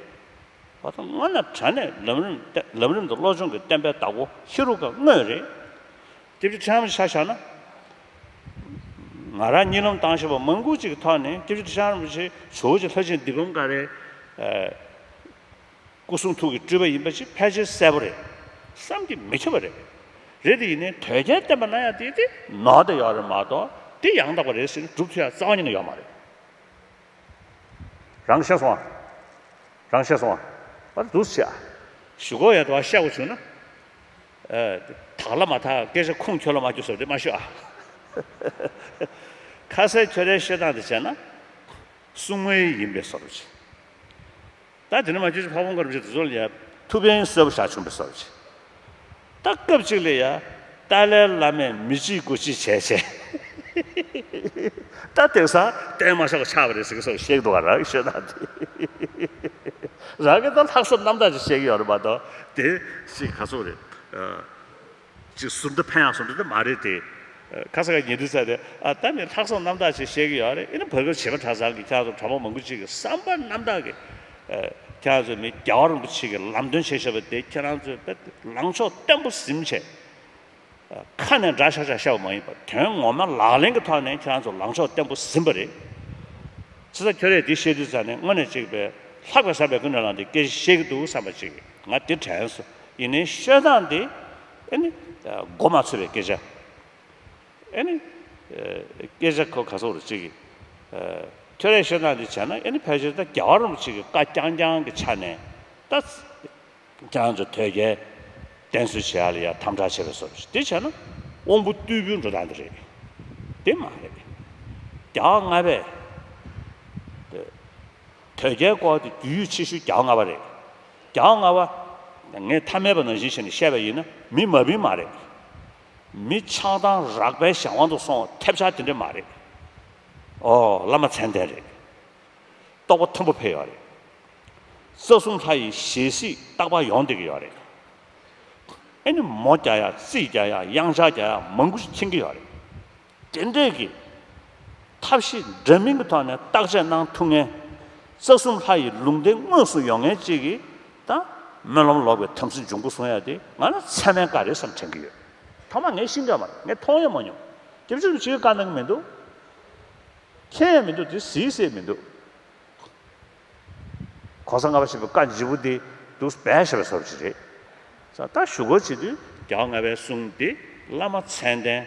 བ་དང་སྔོན་ན་དྲན་ནས་ལམ་རིམ་ལམ་རིམ་དུ་བློ་སྦྱོང་གི་བསྟན་པའི་བདག་པོ་ཧེ་རུ་ཀ་དངོས་རེད། སྐྱེ་བྱེད་ཕྲ་རམ་ཤ་ཤ་ན། ང་རང་གཉིད་ལམ་དྭངས་ཤིང་བ་མང་ཀུན་གཅིག་གི་ཐོག་ནས་སྐྱེ་བྱེད་ཕྲ་རམ་པོ་ཆེ་ཇོ་བོ་རྗེ་ལྷ་ཆེན་འདི་བུམ་ཀ་རའི་སྐུ་གསུང་ཐུགས་ཀྱི་སྤྲུལ་པ་ཡིན་པ་ཅིག་ཕལ་ཆེར་གསལ་པོ་རེད་བསམ་གྱི་མི་ཁྱབ་པ་རེད། རེད་དེ་ཡིན་ནས་དོལ་རྒྱལ་བསྟན་པ་ན་ཡང་དེ་དེ་ནོར་དེ་ཡོད་རེད་མ་གཏོགས་དེ་ཡང་དག་པ་རེད་ཟེར་ནས་སྒྲུབ་ཐུབ་ཡ་རྩ་བ་ཉིད་ནས་ཡོད་མ་རེད། རང་ཤེས་སོང་བ། རང་ཤེས་སོང་བ། བར་དུ་ཟེར། ཞུ་སྒོ་ཡོད་དོ་བ་བཤད་དགོས་བྱུང་ན། དག་ལ་མ་དག་སྐད་ཆ་ཁུངས་འཁྱོལ་ལ་མ་འཁྱོལ་སོགས་འདྲི་མ་ཤོད་ཨ། ཁ་ཟས་ཁྱོད་རའི་བཤད་སྟངས་དེ་བྱས་ན། སྲུང་མ་ཡི་ཡིན་པས་སོ་རུ་བྱེད། ད་དེ་འདྲི་མ་བྱོས་ཅི་ཕ་བོང་ཁ་རུ་བྱེད་དེ་ཚོ་ལ་ཡ། ཐུ་བེན་གསོད་པོ་བཞག་བྱུང་བས་སོ་རུ་བྱེད། ད་སྐབས་ཅིག་ལ་ཡ། ཏཱ་ལའི་བླ་མས་མི་གཅིག་དགོས་ཅི་བྱས་བྱས། ད་དེང་སང་བསྟན་མ་ཆགས་གོ་ཆགས་པ་རེད་ཟེར་གི་སོགས་གཤེགས་འགྲོ་བ་རང་གི་བཤད་སྟངས་དེ། རང་གི་ད་ལྷག་བསམ་རྣམ་དག་ཅིག་བཤད་ཀྱི་ཡོད་རེད་མ་གཏོགས་དེ་ཞིག་ག་ཚོད་རེད། ཅིག་ཟུར་འདི་ཕན་ཡང་ཟུར་འདི་དེ་མ་རེད་དེ། ཁ་ས་ག་ཉེ་དུས་ཚ་དེ། ད་ནི་ལྷག་བསམ་རྣམ་དག་ཅིག་བཤད་གི་ཡོད་རེད་ཨེ་ན་བོད་སྐད་བྱེད་པ་གྲྭ་ཚང་གི་ཁྱེད་ཚོ་གྲྭ་པ་མང་པོ་ཅིག་གི་བསམ་པ་རྣམ་དག་གི། ཁྱེད་ཚོ་ནི་རྒྱ་བ་རིན་པོ་ཆེ་གི་ལམ་སྟོན་བྱེད་ཤེས་པ་དེ་ཁྱེད་རང་ཚོའི་དཔེར་ལངས་ཕྱོགས་བརྟན་པོ་གཟིམ་བྱས། ཁ་ནས་འདྲ་བྱ་བྱ་བྱ་བ་མ་ཡིན་པར་དོན་ངོ་མ་ལག་ལེན་གྱི་ཐོག་ནས་ཁྱེད་རང་ཚོ་ལངས་ཕྱོགས་བརྟན་པོ་ཟིན་པ་རེད། ཚེ་ས་ཁྱོད་རས་འདི་བཤད་དུས་ཚར་ནས་དངོས་ནས་གཅིག་པས་ལྷག་པའི་བསམ་པའི་ཀུན་ནས་ལངས་འདི་སྐད་བཤད་གི་འདུག་བསམ་པ་གཅིག་ང་དེ་དྲན་སོང་ཡིན་ནའི་བཤད་སྟངས་འདི་ཨེ་ནི་མགོ་མ་ཚོས་པའི་སྐད་ཆ་ཨེ་ནི་སྐད་ཆ་གོ་ག་ཚོར་བ་ཅིག་ཁྱོད་རས་བཤད་སྟངས་འདི་བྱས་ན་ཨེ་ནི་ཕལ་ཆེར་ད་རྒྱ་གར་རུམ་ཅིག་གི་བཀའ་རྐྱང་རྐྱང་གི་ཆ་ནས་ད། ཀྱང་ཅི་ཐོད་རྒལ། གདན་གསོལ་བྱེད་ཡ་ལ་ཡ་དམ་དྲག་བྱེད་པའི་སོ་རེད། དེ་བྱས་ན་དབང་པོ་རྟུལ་པོའི་འགྲོ་སྟངས་དེ་རེད། དེ་མ་རེད། བརྒྱ་ལྔ་པས། ཐོད་རྒལ་སྐོར་དེ་རྒྱུས་ཡོད་ཆེ་ཤོས་བརྒྱ་ལྔ་པ་རེད། བརྒྱ་ལྔ་པ། ངས་ཐ་མལ་པ་ནང་བཞིན་བྱས་ནས་བཤད་པ་ཡིན་ན་མི་མ་བིན་མ་རེད། མི་ཆགས་སྡང་རགས་པའི་གཞན་དབང་དུ་སོང་ཐེབས་ཆག་དེ་འདྲས་མ་རེད། ཨོ་བླ་མ་མཚན་ལྡན་རེད། རྟོགས་པ་མཐོན་པོ་འཕེལ་ཡོད་རེད། རྩ་གསུམ་ལྷ་ཡི་ཞལ་གཟིགས་རྟག་པ་ཡོང་བསྡད་ཀྱི་ཡོད་རེད། ཨེ་ནི་མོ་བརྒྱ་ཡ་རྩིས་བརྒྱ་ཡ་དབྱངས་ཆ་བརྒྱ་ཡ་མང་པོ་ཞིག་མཁྱེན་གྱི་ཡོད་རེད། དེ་འདྲས་ཀྱི་ཐབས་ཤེས་འདྲ་མིན་གྱི་ཐོག་ནས་བརྟག་དཔྱད་གནང་ཐུབ་ངེས། རྩ་གསུམ་ལྷ་ཡི་ལུང་བསྟན་དངོས་སུ་ཡོང་ངེས་བཅས་ཀྱི་དང་སྨོན་ལམ་ལོག་པའི་དམ་སྲི་འབྱུང་ཁུངས་བཟུང་ཡ་དེ་ང་ལ་ཚད་མའི་བཀའ་རེད་བསམ་དྲན་གྱི་ཡོད། ཐ་མ་ངས་ཤི་འདྲ་མ་རེད་ངས་མཐོང་ཡ་མ་མྱོང། དེ་བྱུང་ནས་ཅིའི་བཀའ་གནང་གི་མི་འདུག། མཁྱེན་ཡང་མི་འདུག་དེ་གཟིགས་སའི་མི་འདུག། གོང་ས་ལྔ་པ་ཞེས་པའི་བཀའ་འཇིགས་པོ་དེ་འདུག་སྦས་ཞེས་པ་སོགས་ཀྱི་རེད། ད་ལྟ་ཞུ་སྒོར་བྱེད་དུས། རྒྱ་ལྔ་པའི་གསུང་དེ་བླ་མ་མཚན་ལྡན།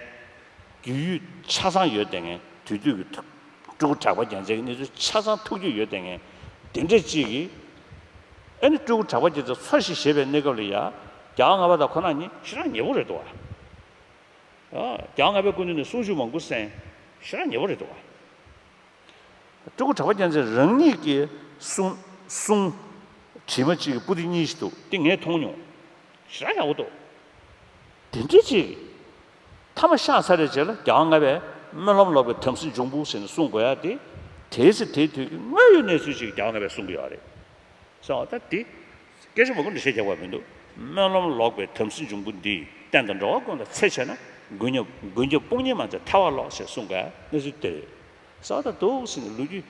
རྒྱུས་ཡོད་ཆ་ཚང་ཡོད་ལྟས་ངན་དུས་དུས་ཀྱི་ཐུགས། སྤྲུལ་སྐུ་གྲགས་པ་རྒྱལ་མཚན་གྱི་གནས་ཚུལ་ཆ་ཚང་ཐུགས་རྒྱུས་ཡོད་ལྟས་ངན། དེ་འདྲས་གཅིག་གིས། ཨེ་ནི་སྤྲུལ་སྐུ་གྲགས་པ་རྒྱལ་མཚན་འཚོ་ཞིག་བཞེས་པའི་གནས་སྐབས་ལ་ཡ། རྒྱ་ལྔ་པ་དག་ཁོ་ན་ཉིད་ཤི་རང་ཉེ་པོ་རེད་དོ། གྱང་ལྔ་པའི་སྐུ་མདུན་ནས་གསུང་བཞུགས་མང་པོ་གསན། ཤོད་ར་ཉེ་བོ་རེད་འདུག། སྤྲུལ་སྐུ་གྲགས་པ་རྒྱལ་མཚན་རང་ཉིད་ཀྱིས་གསུངས། བྲིས་མ་གཅིག་གི་པུ་ཏི་གཉིས་ཤིག་འདུག་དེ་ངས་མཐོང་མྱོང། ཤོད་ར་ཡག་པོ་འདུག། དེ་འདྲི་གཅིག། མཐའ་མ་ཤག་ཚ་རེ་བྱས་ལ་གྱང་ལྔ་པའི་སྨོན་ལམ་ལོག་པའི་དམ་སྲི་འབྱུང་པོ་ཟེར་ནས་གསུང་དགོས་ཡ་དེ། དེའི་ཚེ་དེའི་དུས་ཀྱི་དངོས་ཡོད་གནས་ཚུལ་ཞིག་གྱང་ལྔ་པས་གསུང་གི་ཡོད་རེད། སོང་ད་དེ། སྐད་ཆ་མང་པོ་འདྲི་ཤེས་ཀྱང་བ་མི་འདུག་སྨོན་ལམ་ལོག་པའི་དམ་སྲི་འབྱུང་པོ་འདིས་བསྟན་དང་འགྲོ་བ་ཀུན་ལ་འཚེ་བྱས་ན་རྒུན་ཉོབ་རྒུན་རྒྱོབ་དཔུང་གཉེན་མ་མཛད་ཐལ་བ་ལོག་ཞེས་གསུངས་པའི་གནས་ཚུལ་དེ་རེད་གསལ་ད་དུ་ཟིན་ནས་ལོ་རྒྱུས་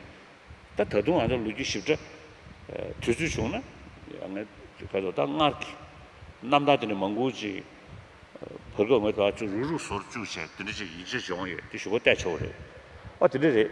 ད་ད་དུང་ང་ཚོ་ལོ་རྒྱུས་ཞིབ་ཕྲ་དུས་ཚོད་བྱུང་ན་ངས་བོད་དོ་ད་སྔར་གྱི་རྣམ་ཐར་དེ་ནས་མང་པོ་ཅིག་བོད་སྐབས་ངོས་ད་ཅུ་རུ་རུ་སོར་བཅུག་བྱས་དེ་འདྲ་ཅིག་ཡིན་ཕྱིར་བྱུང་ཡོད་དེ་ཞུ་བ་གཏད་ཆོག་གི་རེད་ཨོ་དེ་འདྲ་རེད།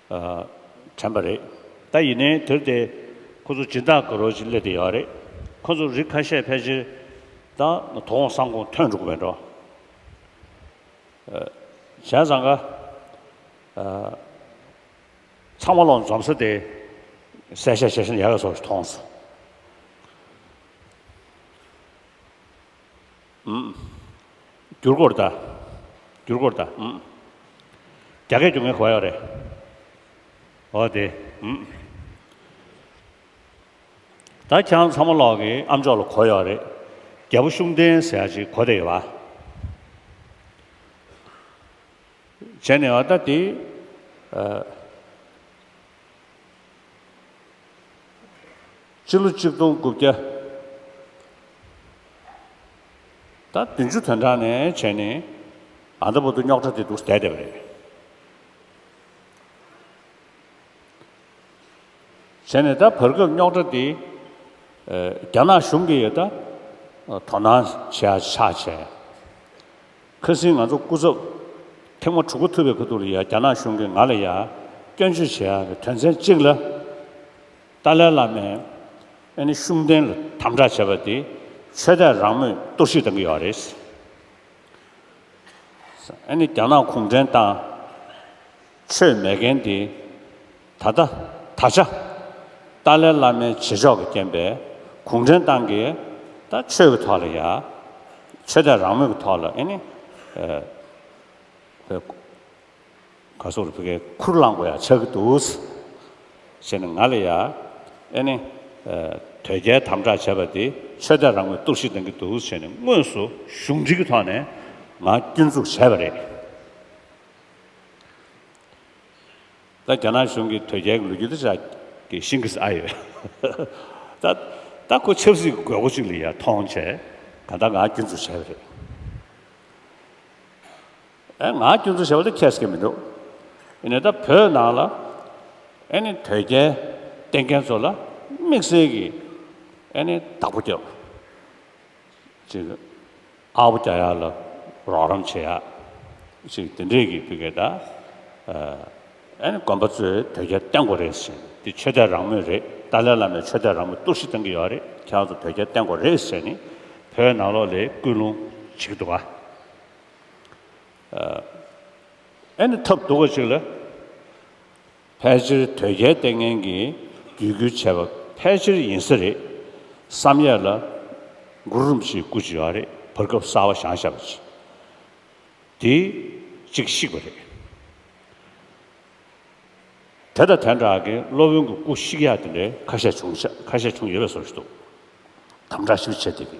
དྲན་པ་རེད་ད་ཡིན་ནའི་དུས་དེ་ཁོ་ཚོ་སྦྱིན་བདག་གི་རོ་བཞིན་སླེབས་ཏེ་ཡོད་རེད་ཁོ་ཚོ་རིགས་ཁ་ཤས་ཕལ་ཆེར་ད་དོ་དགོང་སང་དགོང་ཐོན་འགྲོ་གི་མེད་འགྲོ་གཞན་བཟང་ག་ཚང་མ་ལོག་འཛོམས་ས་དེ་སེ་ཤ་ཤ་ཤན་ཡ་ག་སོགས་སུ་མཐོང་སོང། འགྱུར་གོར་ད། འགྱུར་གོར་ད། རྒྱ་སྐད་ཀྱང་ངའི་གོ་ཡག་རེད། འོ་དེ། ད་ཁྱེད་རང་ཚང་མ་ལོག་གི་ཨམ་ཅོག་ལ་གོ་ཡག་རེད། རྒྱལ་པོ་ཤུགས་ལྡན་ཟེར་ཡག་ཅིག་གོ་བསྡད་ཡོད་པ། བྱས་ནས་ཨ་ད་དེ། སྤྱི་ལོ་གཅིག་སྟོང་དགུ་བརྒྱ་དང་བདུན་ཅུ་དོན་གྲངས་ནས་བྱས་ནས་ཨ་མདོ་བོ་དོ་རྙོག་དྲ་དེ་འདུག་བསྡད་བསྡད་པ་རེད། བྱས་ནས་ད་བར་སྐབས་རྙོག་དྲ་དེ་རྒྱ་ནག་གཞུང་གིས་ད་དོ་སྣང་བྱས་ཡ་ཆགས་བྱས། ཁ་སིང་ང་ཚོ་སྐུ་ཚབ་ཐེངས་མ་དྲུག་གོ་ཐུབ་པའི་ཁ་ཐུག་ལ་ཡ་རྒྱ་ནག་གཞུང་གིས་ང་ལ་ཡ་སྐྱོན་བརྗོད་བྱས་ཡ་དོན་ཚན་གཅིག་ལ་ཏཱ་ལའི་བླ་མས་ཨ་ནི་ཤུགས་ལྡན་ལ་དམ་དྲག་བྱས་པ་དེ་ཆོས་དད་རང་མོས་གཏོར་བཤིག་བཏང་གི་ཡོད་རེད། ཨ་ནི་རྒྱ་ནག་གུང་ཁྲན་ཏང་ཆོས་མེད་མཁན་དེ་ད་ལྟ་ད་ཆ་ཏཱ་ལའི་བླ་མའི་བྱེད་ཕྱོགས་ཀྱི་རྐྱེན་པས་གུང་ཁྲན་ཏང་གིས་ད་ཆོས་ཀྱི་ཐོག་ལ་ཡ་ཆོས་དད་རང་མོས་ཀྱི་ཐོག་ལ་ཨ་ནི་ག་སོག་རུ་ཕི་ཁའི་ཁུར་བླངས་པོ་ཡང་ཆགས་ཀྱི་འདུག། ཞེས་ནས་ང་ལ་ཡ། ཨེ་ནི། དོལ་རྒྱལ་དམ་དྲག་བྱས་པ་འདི་ཆོས་དད་རང་མོས་གཏོར་བཤིག་གཏང་གི་འདུག་ཞེས་ནས་དངོས་སུ་གཞུང་འབྲེལ་གྱི་ཐོག་ནས་ང་སྐྱོན་འཛུགས་བྱས་པ་རེད། ད་རྒྱ་ནག་གཞུང་གིས་དོལ་རྒྱལ་གྱི་ལོ་རྒྱུས་འདི་ཅག་གི་ཤིང་གིས་ཨ་ཡོད། ད་ཁོ་ཆབ་སྲིད་ཀྱི་དགོས་མཁོ་ཅིག་ལ་ཡ་མཐོང་བྱས་ག་ད་ང་སྐྱོན་འཛུགས་བྱས་པ་རེད། ཨེ་ང་སྐྱོན་འཛུགས་བྱེད་པ་ལས་ཁྱད་བསད་མི་འདུག་ཨེ་ནས་ད་བོད་ནང་ལ་ཨེ་ནས་དོལ་རྒྱལ་བསྟེན་མཁན་ཚོ་ལ་དམིགས་བསལ་གྱི་ཨེ་ནས་བདག་པོ་རྒྱབ་ཅིག་གི་ཨ་བོ་རྒྱ་ཡག་ལ་རོགས་རམ་བྱེད་ཡག་ཅིག་དེ་འདྲས་གི་བུ་གས་ད་ཨེ་ནས་དགོན་པ་ཚོས་དོལ་རྒྱལ་བསྟེན་དགོས་རེད་ཟེར་ནས་དེ་ཆོས་དད་རང་མོས་རེད་ཏཱ་ལའི་བླ་མས་ཆོས་དད་རང་མོས་གཏུག་བཤིག་གཏང་གི་ཡོད་རེད་ཁྱེད་རང་ཚོ་དོལ་རྒྱལ་བསྟེན་དགོས་རེད་ཟེར་ནས་བོད་ནང་ལོག་ལས་ཀུན་སློང་བྱེད་ཀྱི་འདུག་ག། ཨ་ནི་ཐབས་སྡུག་པ་ཞིག་ལ། ཕལ་ཆེར་དོལ་རྒྱལ་ལྟས་ངན་གྱིས་བརྒྱུད་བསྐུལ་བྱས་པ་ཕལ་ཆེར་ཡིན་ས་རེད་བསམ་ཡས་ལ། མགུར་རུམ་ཞིག་བསྐུར་བྱས་པ་རེད་བར་སྐབས་གསར་བ་ཞང་ཞབས་ཀྱིས་དེ་གཅིག་བཤིག་པ་རེད། དེ་དང་དེ་འདྲ་གི་སློབ་དཔོན་གྱི་སྐུ་བཤིག་ཡ་དེ་འདྲའི་ཁ་ཤས་བྱུང་ཁ་ཤས་བྱུང་ཡོད་པའི་སོར་བཞིན་འདུག་དམ་དྲག་ཞིག་བྱས་དེ་གི་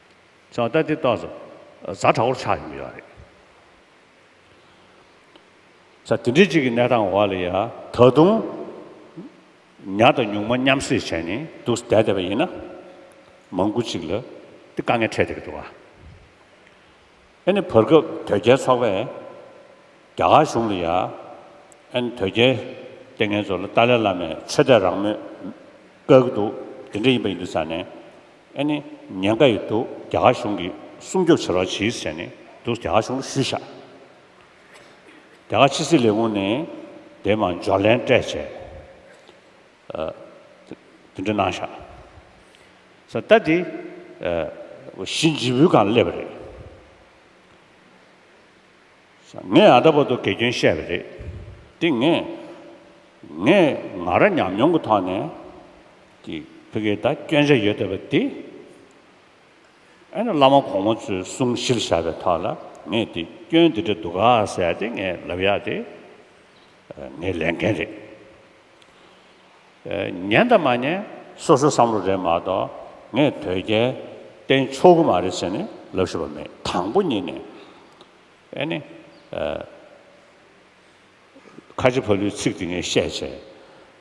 བྱ་བལྟ་དེ་བལྟ་ཟ་བཟའ་དྲག་པོར་ཆགས་ཡོང་གི་ཡོད་རེད། བྱ་དེ་འདྲའི་གཅིག་གི་གནས་སྟངས་འོག་ལ་ཡང་ད་དུང་ཉག་དང་ཉུག་མ་མཉམ་བསྲེས་བྱས་ནས་འདུག་བསྡད་བསྡད་པ་ཡིན་ན། མང་པོ་གཅིག་ལ་དེ་དཀའ་ངལ་འཕྲད་བསྡད་ཀྱི་འདུག་ཨ། ཨ་ནི་བར་སྐབས་དོལ་རྒྱལ་ཚོགས་པས་རྒྱ་གར་གཞུང་ལ་ཡ། ཨ་ནི་དོལ་རྒྱལ་དེ་ངའི་ཚོ་ལ་ཏཱ་ལའི་བླ་མས་ཆོས་དད་རང་མོས་བཀག་གི་འདུག་དེ་འདྲ་ཡིན་པ་ཡིན་འདུག་ཟེར་ནས། ཨ་ནི་ཉེན་ཁ་ཡོད་འདུག་རྒྱ་གར་གཞུང་གིས་སྲུང་སྐྱོབ་བྱེད་རོགས་གྱིས་ཟེར་ནས་འདུག་རྒྱ་གར་གཞུང་ལ་ཞུས་ཤག། རྒྱ་གར་ཕྱི་སྲིད་ལས་ཁུངས་ནས་དེའི་མ་འཇོག་ལན་སྤྲད་བྱས། དེ་འདྲ་གནང་ཤག་ས་ད་དེ་གཞི་འཇིགས་བུ་གང་སླེབས་པ་རེད་ས་ངས་ཨ་ད་པོ་ཏོ་དགེ་སྐྱོན་བཤད་པ་རེད་དེ་ངས་ངས་ང་ར་ཉམས་མྱོང་གི་ཐོག་ནས་དེ་ཕི་གེ་ད་སྐྱོན་ཆ་ཡོད་བསྡད་པ་དེ་ཨེ་ན་བླ་མ་གོང་མ་ཚོའི་གསུང་གཞིར་བཞག་པའི་ཐོག་ལ་ངས་དེ་སྐྱོན་དེ་འདྲ་འདུག་ག་ཟེར་ཡ་དེ་ངས་ལབ་ཡག་དེ་ངའི་ལས་འགན་རེད། ཉན་དང་མ་ཉན་སོ་སོའི་བསམ་བློ་རེད་མ་གཏོགས་ངས་དོལ་རྒྱལ་བསྟེན་ཆོག་གི་མ་རེད་ཟེར་ནས་ལབ་ཤེས་པ་མེད་དང་པོ་གཉིས་ནས་ཨེ་ནི། ཁ་ཆེ་ཕ་ལུའི་ཚིག་དེ་ངས་བཤད་བྱས།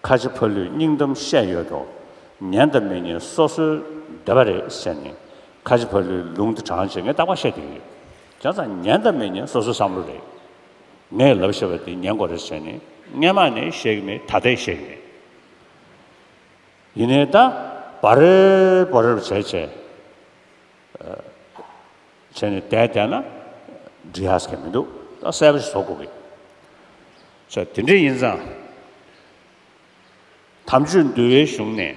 ཁ་ཆེ་ཕ་ལུས་སྙིང་གཏམ་བཤད་ཡོད་དོ། ཉན་དང་མི་ཉན་སོ་སོའི་འདོད་པ་རེད་ཟེར་ནས་ཁ་ཆེ་ཕ་ལུའི་ལུང་དེ་དྲང་བྱས་ངས་རྟག་པར་བཤད་དེ་ཡོད། ཁྱོད་ཚང་ཉན་དང་མི་ཉན་སོ་སོའི་བསམ་བློ་རེད། ངས་ལབ་ཞེས་པ་དེ་ཉན་དགོས་རེད་ཟེར་ནས་སྔན་མ་ནས་བཤད་གི་མེད་ད་ལྟའི་བཤད་གི་མེད། ཡིན་ནའི་ད་བ་རེབ་བ་རེབ་བྱས་བྱས་བྱས་ནས་དལ་དལ་ན་འབྲི་ཧ་ཟེར་གི་མི་འདུག་ད་གསལ་པོ་ཞིག་བཟོ་དགོས་གི། ཆ་དེ་འདྲས་ཡིན་ཙང་དམ་ཆོས་འདུལ་བའི་གཞུང་ནས་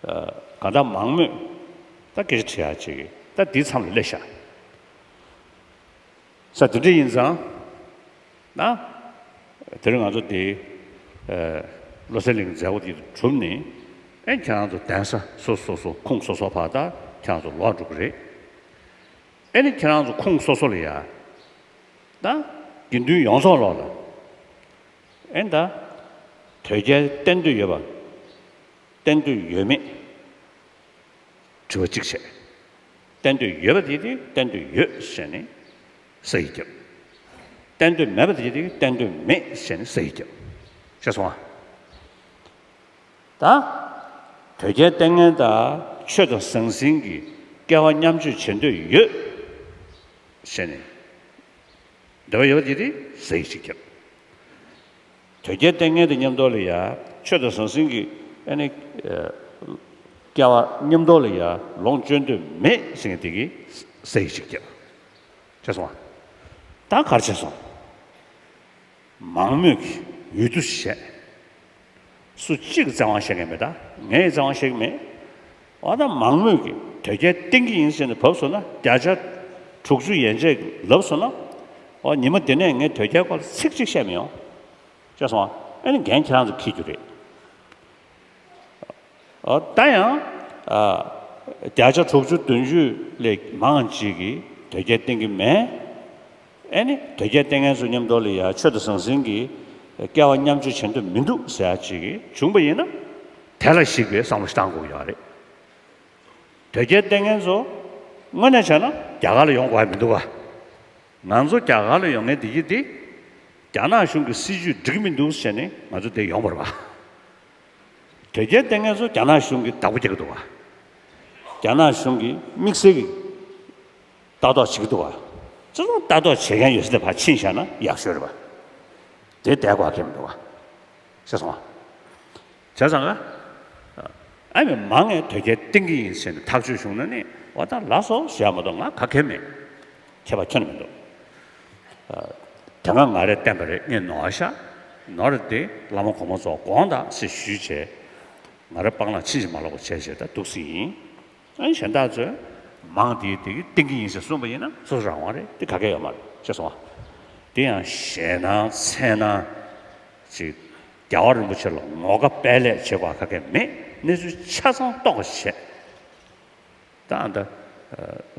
དགའ་ལྡག་མང་མོད། ད་སྐད་ཆ་དྲི་ཡ་གཅིག་ཡོད་ད་འདི་མཚམས་ལ་སླེབས་ཤག་ས་འདི་འདྲ་ཡིན་ཙང་ན། དེར་ང་ཚོ་འདི་བློ་གསལ་གླིང་མཛད་སྒོ་འདི་གྲུབ་ནས་ཨེ་ཁྱེད་རང་ཚོ་གདན་ས་སོ་སོ་སོ་ཁུངས་སོ་སོ་བར་ད་ཁྱེད་རང་ཚོ་ལོག་འགྲོ་གི་རེད། ཨེ་ནི་ཁྱེད་རང་ཚོ་ཁུངས་སོ་སོ་ལ་ཡ་ན། དགེ་འདུན་ཡོངས་རྫོགས་ལོག་ལ་ཨེ་ད། དོལ་རྒྱལ་བསྟེན་འདོད་ཡོད་པ། བསྟན་འདོད་ཡོད་མེད་དྲི་བ་གཅིག་བྱས། བསྟན་འདོད་ཡོད་པ་དེ་དེ་བསྟན་འདོད་ཡོད་ཟེར་ནས་ས་ཡིས་བརྒྱབ། བསྟན་འདོད་མེད་པ་དེ་དེ་བསྟན་འདོད་མེད་ཟེར་ནས་ས་ཡིས་བརྒྱབ། ཤེས་སོང་ཨ། ད་དོལ་རྒྱལ་ལྟས་ངན་དག་ཆོས་དང་ཟང་ཟིང་གི་སྐལ་བ་མཉམ་སྤྱོད་བྱེད་འདོད་ཡོད་ཟེར་ནས་འདོད་པ་ཡོད་པ་དེ་དེ་ས་ཡིས་གཅིག་བརྒྱབ། དོལ་རྒྱལ་ལྟས་ངན་དེ་ཉམས་རྟོགས་ལས་ཡ། ཆོས་དང་ཟང་ཟིང་གི། སྐལ་བ་ཉམས་རྟོགས་ལས་ཡ། ལོངས་སྤྱོད་འདོད་མེད་ཟིན་ངེ་དེ་གི། ཟས་ཡིག་ཅིག་བརྒྱབ། བྱས་སོང་བ། ད་གར་བྱས་སོང། མང་མོས་ཀྱི་འོས་བསྡུ་བྱས། སུ་གཅིག་གི་བཙན་དབང་བཤད་མཁན་མེད་ད། ངས་བཙན་དབང་བཤད་ཀྱི་མེད། འོ་ན་མང་མོས་ཀྱི་དོལ་རྒྱལ་བསྟེན་གྱི་ཡིན་ཟེར་ནས་བབས་སོང་ན་བརྒྱ་ཆ་དྲུག་ཅུ་ཡན་ཆད་ཀྱིས་ལབ་སོང་ན། འོ་ཉི་མ་འདི་ནས་ངས་དོལ་རྒྱལ་སྐོར་ལ་ཚིག་གཅིག་བཤད་མི་ཡོང། ཤེས་སོང་ཨ། ཨ་ནི་འགན་ཁྱེད་རང་ཚོས་འཁུར་རྒྱུ་རེད། འོ་ད་ཡང་བརྒྱ་ཆ་དྲུག་ཅུ་བདུན་ཅུ་ལས་མང་ཅིག་གིས་དོལ་རྒྱལ་བསྟེན་གྱི་མེད། ཨེ་ནི་དོལ་རྒྱལ་ལྟས་ངན་ཚོ་མཉམ་འགྲོགས་ལ་ཡ་ཆོས་དང་ཟང་ཟིང་གི་སྐལ་བ་མཉམ་སྤྱོད་བྱེད་འདོད་མི་འདུག་ཟེར་ཡག་ཅིག་བྱུང་བ་ཡིན་ན་དེ་ལ་གཞིགས་པའི་བསམ་བློ་ཞིག་བཏང་དགོས་ཀྱི་རེད། དོལ་རྒྱལ་ལྟས་ངན་ཚོ་དངོས་གནས་བྱས་ན་རྒྱ་གར་ལ་ཡོང་དགོས་ཀྱི་མི་འདུག་ག་ང་ཚོ་རྒྱ་གར་ལ་ཡོང་ངེས་བདེ་སྐྱིད་དེ་རྒྱ་ནག་གཞུང་གི་སྲིད་ཇུས་འགྲིག་མི་འདུག་བྱས་ནས་ང་ཚོ་བདེ་ཡོང་པར་བ། དོལ་རྒྱལ་ལྟས་ངན་ཚོ་རྒྱ་ནག་གཞུང་གི་བདག་པོ་བྱེད་ཀྱི་འདུག་ག་རྒྱ་ནག་གཞུང་གི་དམིགས་བསལ་གྱི། ལྟ་རྟོག་བྱེད་ཀྱི་འདུག་བ། ཅི་ཙམ་ལྟ་རྟོག་བྱེད་མཁན་ཡོད་ས་དེ་ཕར་ཕྱིན་བཞག་ན་ཡག་ཤོས་རེད་བ། དེ་བསྡད་དགོས་ཀྱི་མི་འདུག་བ། ཤེས་སོང་བ། བྱས་ཙང་ང། ཨ་མས་མ་ངས་དོལ་རྒྱལ་བསྟེན་གྱི་ཡིན་ཟེར་ནས་ཐག་གཅོད་བྱུང་ན་ནི་བ་ད་ལ་སོ་ཞེས་ཡག་མ་གཏོགས་ང་ག་གལ་མེད། ཁྱེད་བ་ཁྱོད་ནི་མི་འདུག། དེ་སྔ་ང་རེ་བསྟན་པ་རེ་རྙེད་ནོ་ཨ་ཤ། ནོ་རེ་དེ་བླ་མ་གོང་མ་ཚོ་དགོངས་དག་སེ་ཞུས་བྱས། ང་རེ་སྤང་བླང་ཕྱིན་ཅི་མ་ལོག་པ་བྱས་བྱས་ད་འདུག་སེ་ཡིན། གཞན་དག་ཚོས་མང་དེའི་དེ་གི་སྟེང་གི་ཡིན་ཟེར་གསུངས་པ་ཡིན་ན་སོ་སོ་རང་དབང་རེད་དེ་ག་གེ་ཡོད་མ་རེད་ཅེས་གསུངས་བ། དེ་ཡང་ཞེད་སྣང་འཚེར་སྣང་ཅིག་རྒྱལ་བ་རིན་པོ་ཆེ་ལ་ངོ་དགའ་དཔལ་ལེགས་བྱེད་པ་ག་གེ་མེད་གནས་ཚུལ་ཆ་ཚང་རྟོགས་པ་བྱས། ད་ཨ་མདའ་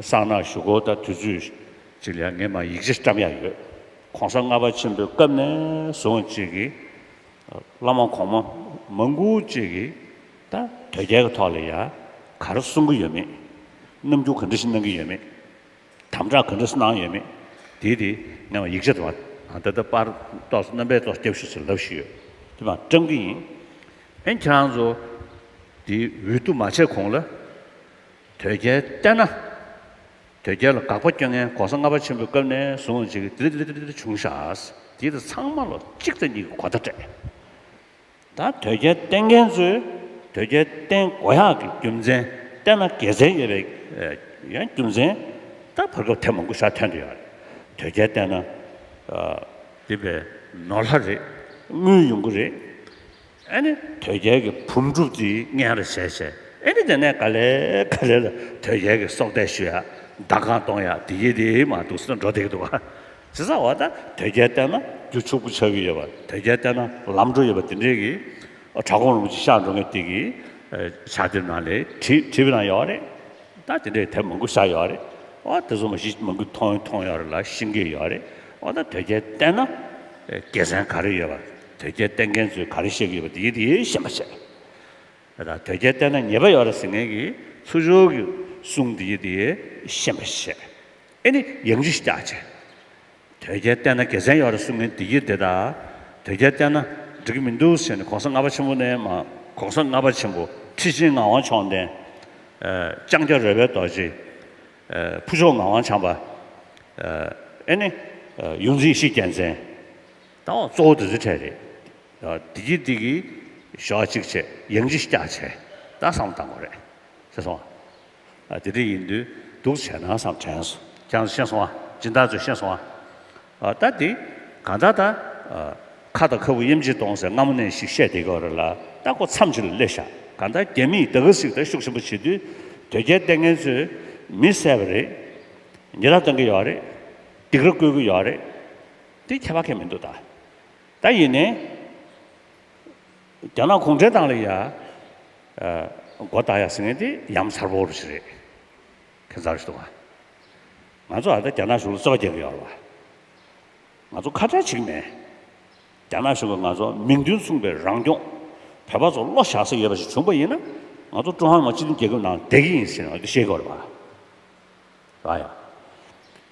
གསང་ནག་ཞུ་སྒོ་དང་དུས་ཚོད་ཅིག་ལ་ངས་མ་ཡིག་ཆ་བཀྲམ་ཡག་ཡོད ྋགོང་ས་ལྔ་པ་ཆེན་པོའི་སྐབས་ནས་བཟུང་བཅས་ཀྱི་བླ་མ་གོང་མ་མ་མགུ་བཅས་ཀྱི་ད་དོལ་རྒྱལ་གྱི་ཐོག་ལ་ཡང་ག་རེ་གསུང་གི་ཡོད་མེད། རྣམ་འགྱུར་ག་འདྲ་ཞིག་གནང་གི་ཡོད་མེད། དམ་བསྒྲགས་ག་འདྲ་ཞིག་གནང་ཡོད་མེད། དེའི་དེ་ནས་བར་ཡིག་ཆ་དེ་བ་ད་ལྟ་པར་ཏོག་རྣམ་པས་ཏོག་སྐྱབས་ཞུ་ཆེད་ལབ་བཞིན་ཡོད་དེ་བ་བཀྲམ་གི་ཡིན། ཨེ་ཁྱེད་རང་ཚོ་དེ་འུད་བསྟུ་མ་བྱས་གོང་ལ་དོལ་རྒྱལ་བསྟན་ན། དོལ་རྒྱལ་ལ་དགག་པ་སྐྱོན་ངན་གོང་ས་ལྔ་པ་ཆེན་པོའི་སྐབས་ནས་བཟུང་ཅིག་དིར་དིར་དིར་དིར་བྱུང་ཤག་དེ་དེ་ཚང་མ་ལོ་གཅིག་རྩ་གཉིས་ཀྱི་གོ་བརྡ་སྤྲད། ད་དོལ་རྒྱལ་བསྟེན་མཁན་ཚོས་དོལ་རྒྱལ་བསྟེན་དགོས་ཡག་གི་རྒྱུ་མཚན་བསྟན་ན་དགེ་མཚན་ཡོད་པའི་ཡང་རྒྱུ་མཚན་ད་བར་སྐབས་ཐེངས་མང་པོ་ཤར་ཐོན་འདུག་ཡག་རེད་དོལ་རྒྱལ་བསྟེན་ན་འདི་པའི་ནོར་ལྷ་རེད་དངུལ་ཡོང་གི་རེད་ཨ་ནི་དོལ་རྒྱལ་གི་བུམ་སྒྲུབ་དེ་ངན་ར་བྱས་བྱས་ཨེ་ནི་དེ་ནས་ག་ལེ་ག་ལེ་ལ་དོལ་རྒྱལ་གི་སྲོག་གཏད་ཞུ་ཡག་མདའ་གང་གཏོང་ཡག་དེ་ཡི་དེ་མ་འདུག་སེ་འགྲོ་བསྡད་ཀྱི་འདུག་ཨ། ཟེར་ས་བ་ད་དོལ་རྒྱལ་བསྟན་ན་རྒྱུ་ཕྱུག་པོ་ཆགས་ཀྱི་ཡོད་པ་དོལ་རྒྱལ་བསྟན་ན་ལམ་འགྲོ་ཡོད་པ་དེ་འདྲའི་གི་བྲག་གོང་རིན་པོ་ཆེ་ཤག་འགྲོ་མཁན་དེ་གི་ཕྱག་དེབ་ནང་ལས་བྲིས་བྲིས་པའི་ནང་ཡོད་རེད་ད་དེ་འདྲའི་དེབ་མང་པོ་ཤག་ཡོད་རེད་ཨོ་དེ་ཚོ་མ་གཞི་མང་པོ་མཐོང་མཐོང་ཡོད་རེད་ལ་ཤེས་ཀྱི་ཡོད་རེད་ཨོ་ད་དོལ་རྒྱལ་བསྟན་ན་རྒྱལ་མཚན་ག་རེ་ཡོད་པ་དོལ་རྒྱལ་བསྟན་མཁན་ཚོས་ག་རེ་བཤད་ཀྱི་ཡོད་པ་དེ་གི་དེའི་ཞེན་པ་བྱས་ཨོ་ད་དོལ་རྒྱལ་བསྟན་ན་ཉེས་པ་ཡོད་རེད་ཟེར་མཁན་གི་ཚུར་ཤོར་གི་གསུང་དེ་གི་དེའི་ཞེན་པ་བྱས། ཨེ་ནི་ཡང་རིགས་སྐྱག་བྱས། དོལ་རྒྱལ་བསྟན་ན་དགེ་མཚན་ཡོད་རེད་གསུང་མིན་འདི་ཡི་འདི་ད། དོལ་རྒྱལ་བསྟན་ན་འགྲིག་གི་མི་འདུག་ཟེར་ནས་གོང་ས་ལྔ་པ་ཆེན་པོ་ནས་མ། གོང་ས་ལྔ་པ་ཆེན་པོ་ཁྲི་ཆེན་ངག་དབང་མཆོག་ལྡན། ལྕང་སྐྱ་རོལ་པའི་རྡོ་རྗེ། ཕུ་ཆོག་ངག་དབང་བྱམས་པ། ཨེ་ནི། ཡུམ་རིགས་བཞི་རྒྱལ་མཚན། ད་འོ་གཙོ་བོ་དེ་ཚོའི་གྲས་རེད། འདི་ཡི་འདི་གི། ཞོག་གཅིག་བྱས་ཡང་རིགས་སྐྱག་བྱས། ད་བསམ་བཏང་གོ་རེད། ཤེས་སོང། དེ་འདྲ་ཡིན་དུས་སྡུག་བྱས་ན་བསམ་དྲན་སོ་ཀྱང་ཤེས་སོང་ཨ་སྦྱིན་བདག་ཚོས་ཤེས་སོང་ཨ། ད་འདི་གང་ད་ད། ཁ་དང་ཁ་སྤུ་གཡེམ་ཅིག་གཏོང་སའི་སྔ་མོ་ནས་ཞིག་བཤད་བསྡད་གི་རེད་ལ་ད་ཁོ་མཚམས་ཅིག་ལ་སླེབས་ཤག་གང་ད་རྒྱ་མིས་ད་ག་ཟིག་ད་ཤུགས་ཆེན་པོ་བྱེད་དུས་དོལ་རྒྱལ་ལྟས་ངན་ཚོས་མི་གསད་པ་རེད། ཉེས་ར་གཏོང་གི་ཡོད་རེད། སྡིག་ར་བསྐུལ་གི་ཡོད་རེད། འདི་ཁྱད་པར་ཁས་མི་འདུག་ད། ད་ཡིན་ནའི། རྒྱ་ནག་གུང་ཁྲན་ཏང་ལ་ཡསགོ་བལྟ་ཡ་ཟེར་ངེས་དེ་ཡམ་མཚར་བོ་རུ་ཞིག་རེད་ཁེ་མཚར་ཞིག་འདུག་བ། ང་ཚོ་ད་ལྟ་རྒྱ་ནག་གཞུང་ལ་རྩོད་པ་རྒྱག་གི་ཡོད་རེད་བ། ང་ཚོ་ཁ་བྲལ་བྱེད་ཀྱི་མེད། རྒྱ་ནག་གཞུང་གིས་ང་ཚོ་མིང་དོན་མཚུངས་པའི་རང་སྐྱོང་བོད་པ་ཚོ་བློ་བཞག་སའི་ཡོད་པ་ཞིག་བྱུང་པ་ཡིན་ན་ང་ཚོ་ཀྲུང་ཧྭ་མི་དམངས་སྤྱི་མཐུན་རྒྱལ་ཁབ་ནང་བསྡད་ཀྱི་ཡིན་ཟེར་ང་ཚོས་ཤེས་དགོས་རེད་བ།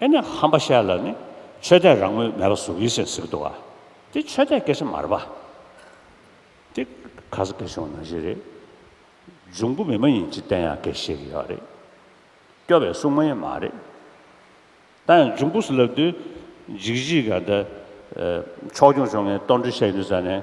ཨེ་ནས་ཧམ་པ་བཤད་ལ་ནི་ཆོས་དད་རང་མོས་མེད་པ་ཟུག་ཡིད་སེམས་ཟིག་འདུག་ཨ། དེ་ཆོས་དད་སྐད་ཆ་མ་རེད་པ། དེ་ག་ས་སྐད་གཞུང་ནང་བཞིན་རེད། འབྱུང་པོ་མི་མ་ཡིན་ཅི་བསྟན་ཡང་སྐད་བཤད་ཀྱི་ཡོད་རེད། སྐྱོ་བའི་སྲུང་མ་ཡང་མ་རེད། ད་ཡང་འབྱུང་པོ་སུ་ལབ་དུས་འཇིགས་བྱེད་ག་ད། ཕྱོགས་སྐྱོང་བྱུང་ངས་ལྟོ་འགྲོས་བཤད་ཀྱི་འདུག་ས་ནས།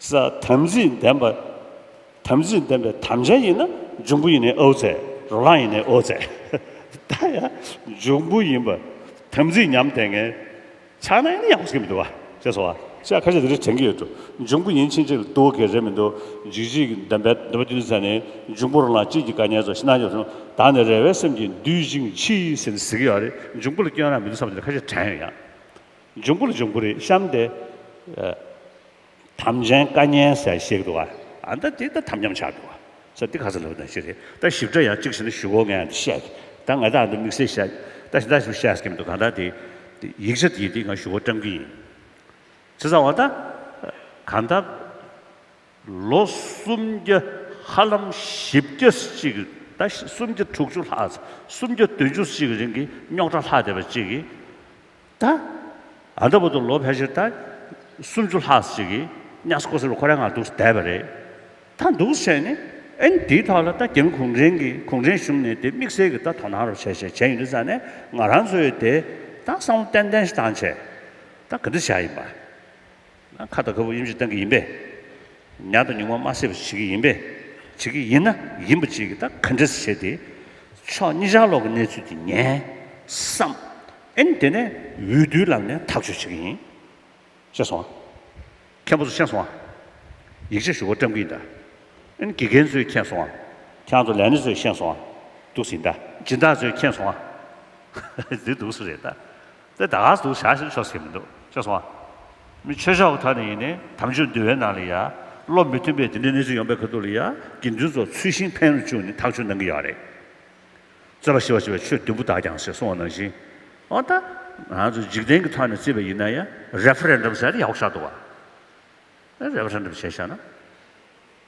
ས། དམ་ཚིག་ལྡན་པ། དམ་ཚིག་ལྡན་པའི་དམ་ཅན་ཡིན་ན་འབྱུང་པོ་ཡིན་ནས་ཨོའུ་ཙེ། རོ་ལངས་ཡིན་ནས་ཨོའུ་ཙེ། ད་ཡང་འབྱུང་པོ་ཡིན་པ། དམ་ཚིག་ཉམས་དེ་ངས། ཕྱག་ན་ཡིན་ན་ཡང་བཟོ་གི་མི་འདུག་བ། ཅེས་སོ། ཤ་ཁ་ཤས་དེ་རིགས་དྲན་གི་ཡོད་འདུག་འབྱུང་པོ་ཡིན་ཕྱིན་ཆད་ལྟོ་གོས་ཀྱི་རེད་མི་འདུག་འཇིགས་བྱེད་ཀྱི་འདོན་པའི་འདོད་པ་བསྟུན་ས་ནི་འབྱུང་པོ་རོ་ལངས་སྐྱིད་ཀྱི་དཀའ་ཉེན་ཚོ་ཤི་ན་ཡོད་བྱུང་ད་ནི་རེ་བའི་སེམས་ཀྱིས་འདུད་ཅིང་མཆིས། ཟེར་ནས་ཟེར་གྱི་ཡོད་རེད་འབྱུང་པོ་ལ་སྐྱོན་རང་མི་འདུག་བསམ་པ་དེ་རེད་ཁ་ཤས་དྲན་ཡོད་ཡང། འབྱུང་པོ་ལ་འབྱུང་པོ་རེད་བཤམས་ཏེ། དམ་ཅན་བཀའ་ཉན་ཟས་བཞེས་འགྲོ་བ། ད་དེ་ད་དམ་ཉམས་ཆག་འགྲོ་བ། ས་འདི་ག་ས་ལ་བ་ན་ཅི་རེད་ད་ཞིབ་ཕྲ་ཡང་གཅིག་བྱས་ན་ཞུ་གོ་ངས་འདི་བཤད་ཀི་ད་ང་ད་འདི་དམིགས་བསལ་བཤད་ཀི་ད་ད་ཞིབ་བཤད་ཀི་མི་འདུག་གང་ལྟར་དེ་ཡིག་ཆ་དེ་དེ་ང་ཞུ་གོ་བཀྲམ་གི་ཡིན། ཚེ་ཚ་བ་ད་གང་ལྟར་ལོ་གསུམ་བརྒྱ་ཧ་ལམ་བཞི་བརྒྱ་ཅིག་ད་གསུམ་བརྒྱ་དྲུག་ཅུ་ལྷག་གསུམ་བརྒྱ་བདུན་ཅུ་ཅིག་རིང་གི་རྙོག་དྲ་ལྷག་བསྡད་པ་ཅིག་གིས། ད་ལྟ་བར་དུ་ལོ་ཕལ་ཆེར་ད་སུམ་ཅུ་ལྷག་ཅིག་གིས་གཉའ་སྐོར་སེར་པོ་ཁོ་རའི་ངང་འདུག་བསྡད་པ་རེད། ད་འདུག་བྱས་ནས་ཨེ་འདིའི་ཐོག་ལ་ད་རྒྱ་མི་གུང་ཁྲན་གྱིས་གུང་ཁྲན་གཞུང་ནས་དེ་དམིགས་བསལ་གྱིས་ད་དོ་སྣང་རོགས་བྱས་བྱས་བྱས་ཡིན་འདུག་ས་ནས་ང་རང་ཚོས་དེ་ད་བསམ་བློ་ཏན་ཏན་ཞིག་བཏང་བྱས་ད་ག་འདྲ་བྱ་ཡིན་པ། ཁ་དང་ཁ་སྤུ་ཡུམ་གྱིས་བསྟན་གྱི་ཡིན་པས། ཉག་དང་ཉུང་མ་དམར་སེར་བྱེད་ཀྱི་ཡིན་པས། བྱེད་ཀྱི་ཡིན་ན་ཡིན་པ་བྱེད་ཀྱི་ད་ག་འདྲས་སུ་བྱས་ཏེ། ཕྱོགས་གཉིས་ཆ་ལོག་གི་གནས་ཚུལ་དེ་ཉན། བསམ། ཨན་དེ་ནས་འོས་བསྡུའི་ལམ་ནས་ཐག་གཅོད་བྱེད་ཀྱི་ཡིན། ཤེས་སོང་ཨ། མཁན་པོ་ཚོ་ཤེས་སོང་ཨ། ཡིག་ཆ་ཞུ་བ་བཀྲམ་གྱི་ཡིན་ད། ཨན་དགེ་རྒན་ཚོས་མཁྱེན་སོང་ཨ། ཁྱང་ཚོ་ལས་སྣེ་ཚོས་ཤེས་སོང་ཨ། འདུག་ཟིན་ད། སྦྱིན་བདག་ཚོས་མཁྱེན་སོང་ཨ། འདི་འདུག་སུ་རེད་ད། དེ་ད་ག་ཟུག་བྱ་ཞིང་ཆོག་ཟེར་གྱི་མི་འདུག་ཅེས་གསུངས། མི་ཆོས་ཤོག་ཁག་ནས་ཡིན་ནའི་དམ་ཆོས་འདུལ་བའི་ནང་ལ་ཡ། བློ་མི་མཐུན་པའི་དེ་འདྲའི་གནས་ཚུལ་ཡོང་པའི་ཁ་ཐུག་ལ་ཡ། དགེ་འདུན་ཚོ་ཚུལ་ཤིང་འཕེན་རུ་བཅུག་ནས་ཐག་གཅོད་གནང་གི་ཡོད་རེད། རྩོད་པ་ཞི་བར་བྱེད་པའི་ཆོས་བདུན་པོ་དག་ཀྱང་ཞེས་གསུངས་བ་ནང་བཞིན། འོ་ད། ང་ཚོ་འཇིག་རྟེན་གྱི་ཐོག་ནས་བརྩིས་པ་ཡིན་ན་ཡ། Referendum ཟེར་ཡག་པོ་ཆགས་འདུག་བ། Referendum བྱས་ཤག་ན།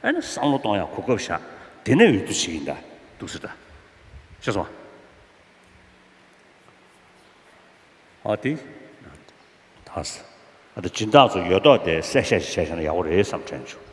ཨེ་ན་བསམ་བློ་གཏོང་ཡག་གོ་སྐབས་བཞག་དེ་ནས་འོས་བསྡུ་བྱེད་ཀྱི་འདའ་འདུག་ཟེར་འདྲ་ཤེས་སོང་ཨ་ཨ་དེ་ད་ཨ་ཟེར་ཨ་དེ་སྦྱིན་བདག་ཚོ་ཡོད་མདོག་དེ་གསལ་བཤད་ཞིག་བྱས་ཤེས་ན་ཡག་པོ་རེད་བསམ་དྲན་བྱུང།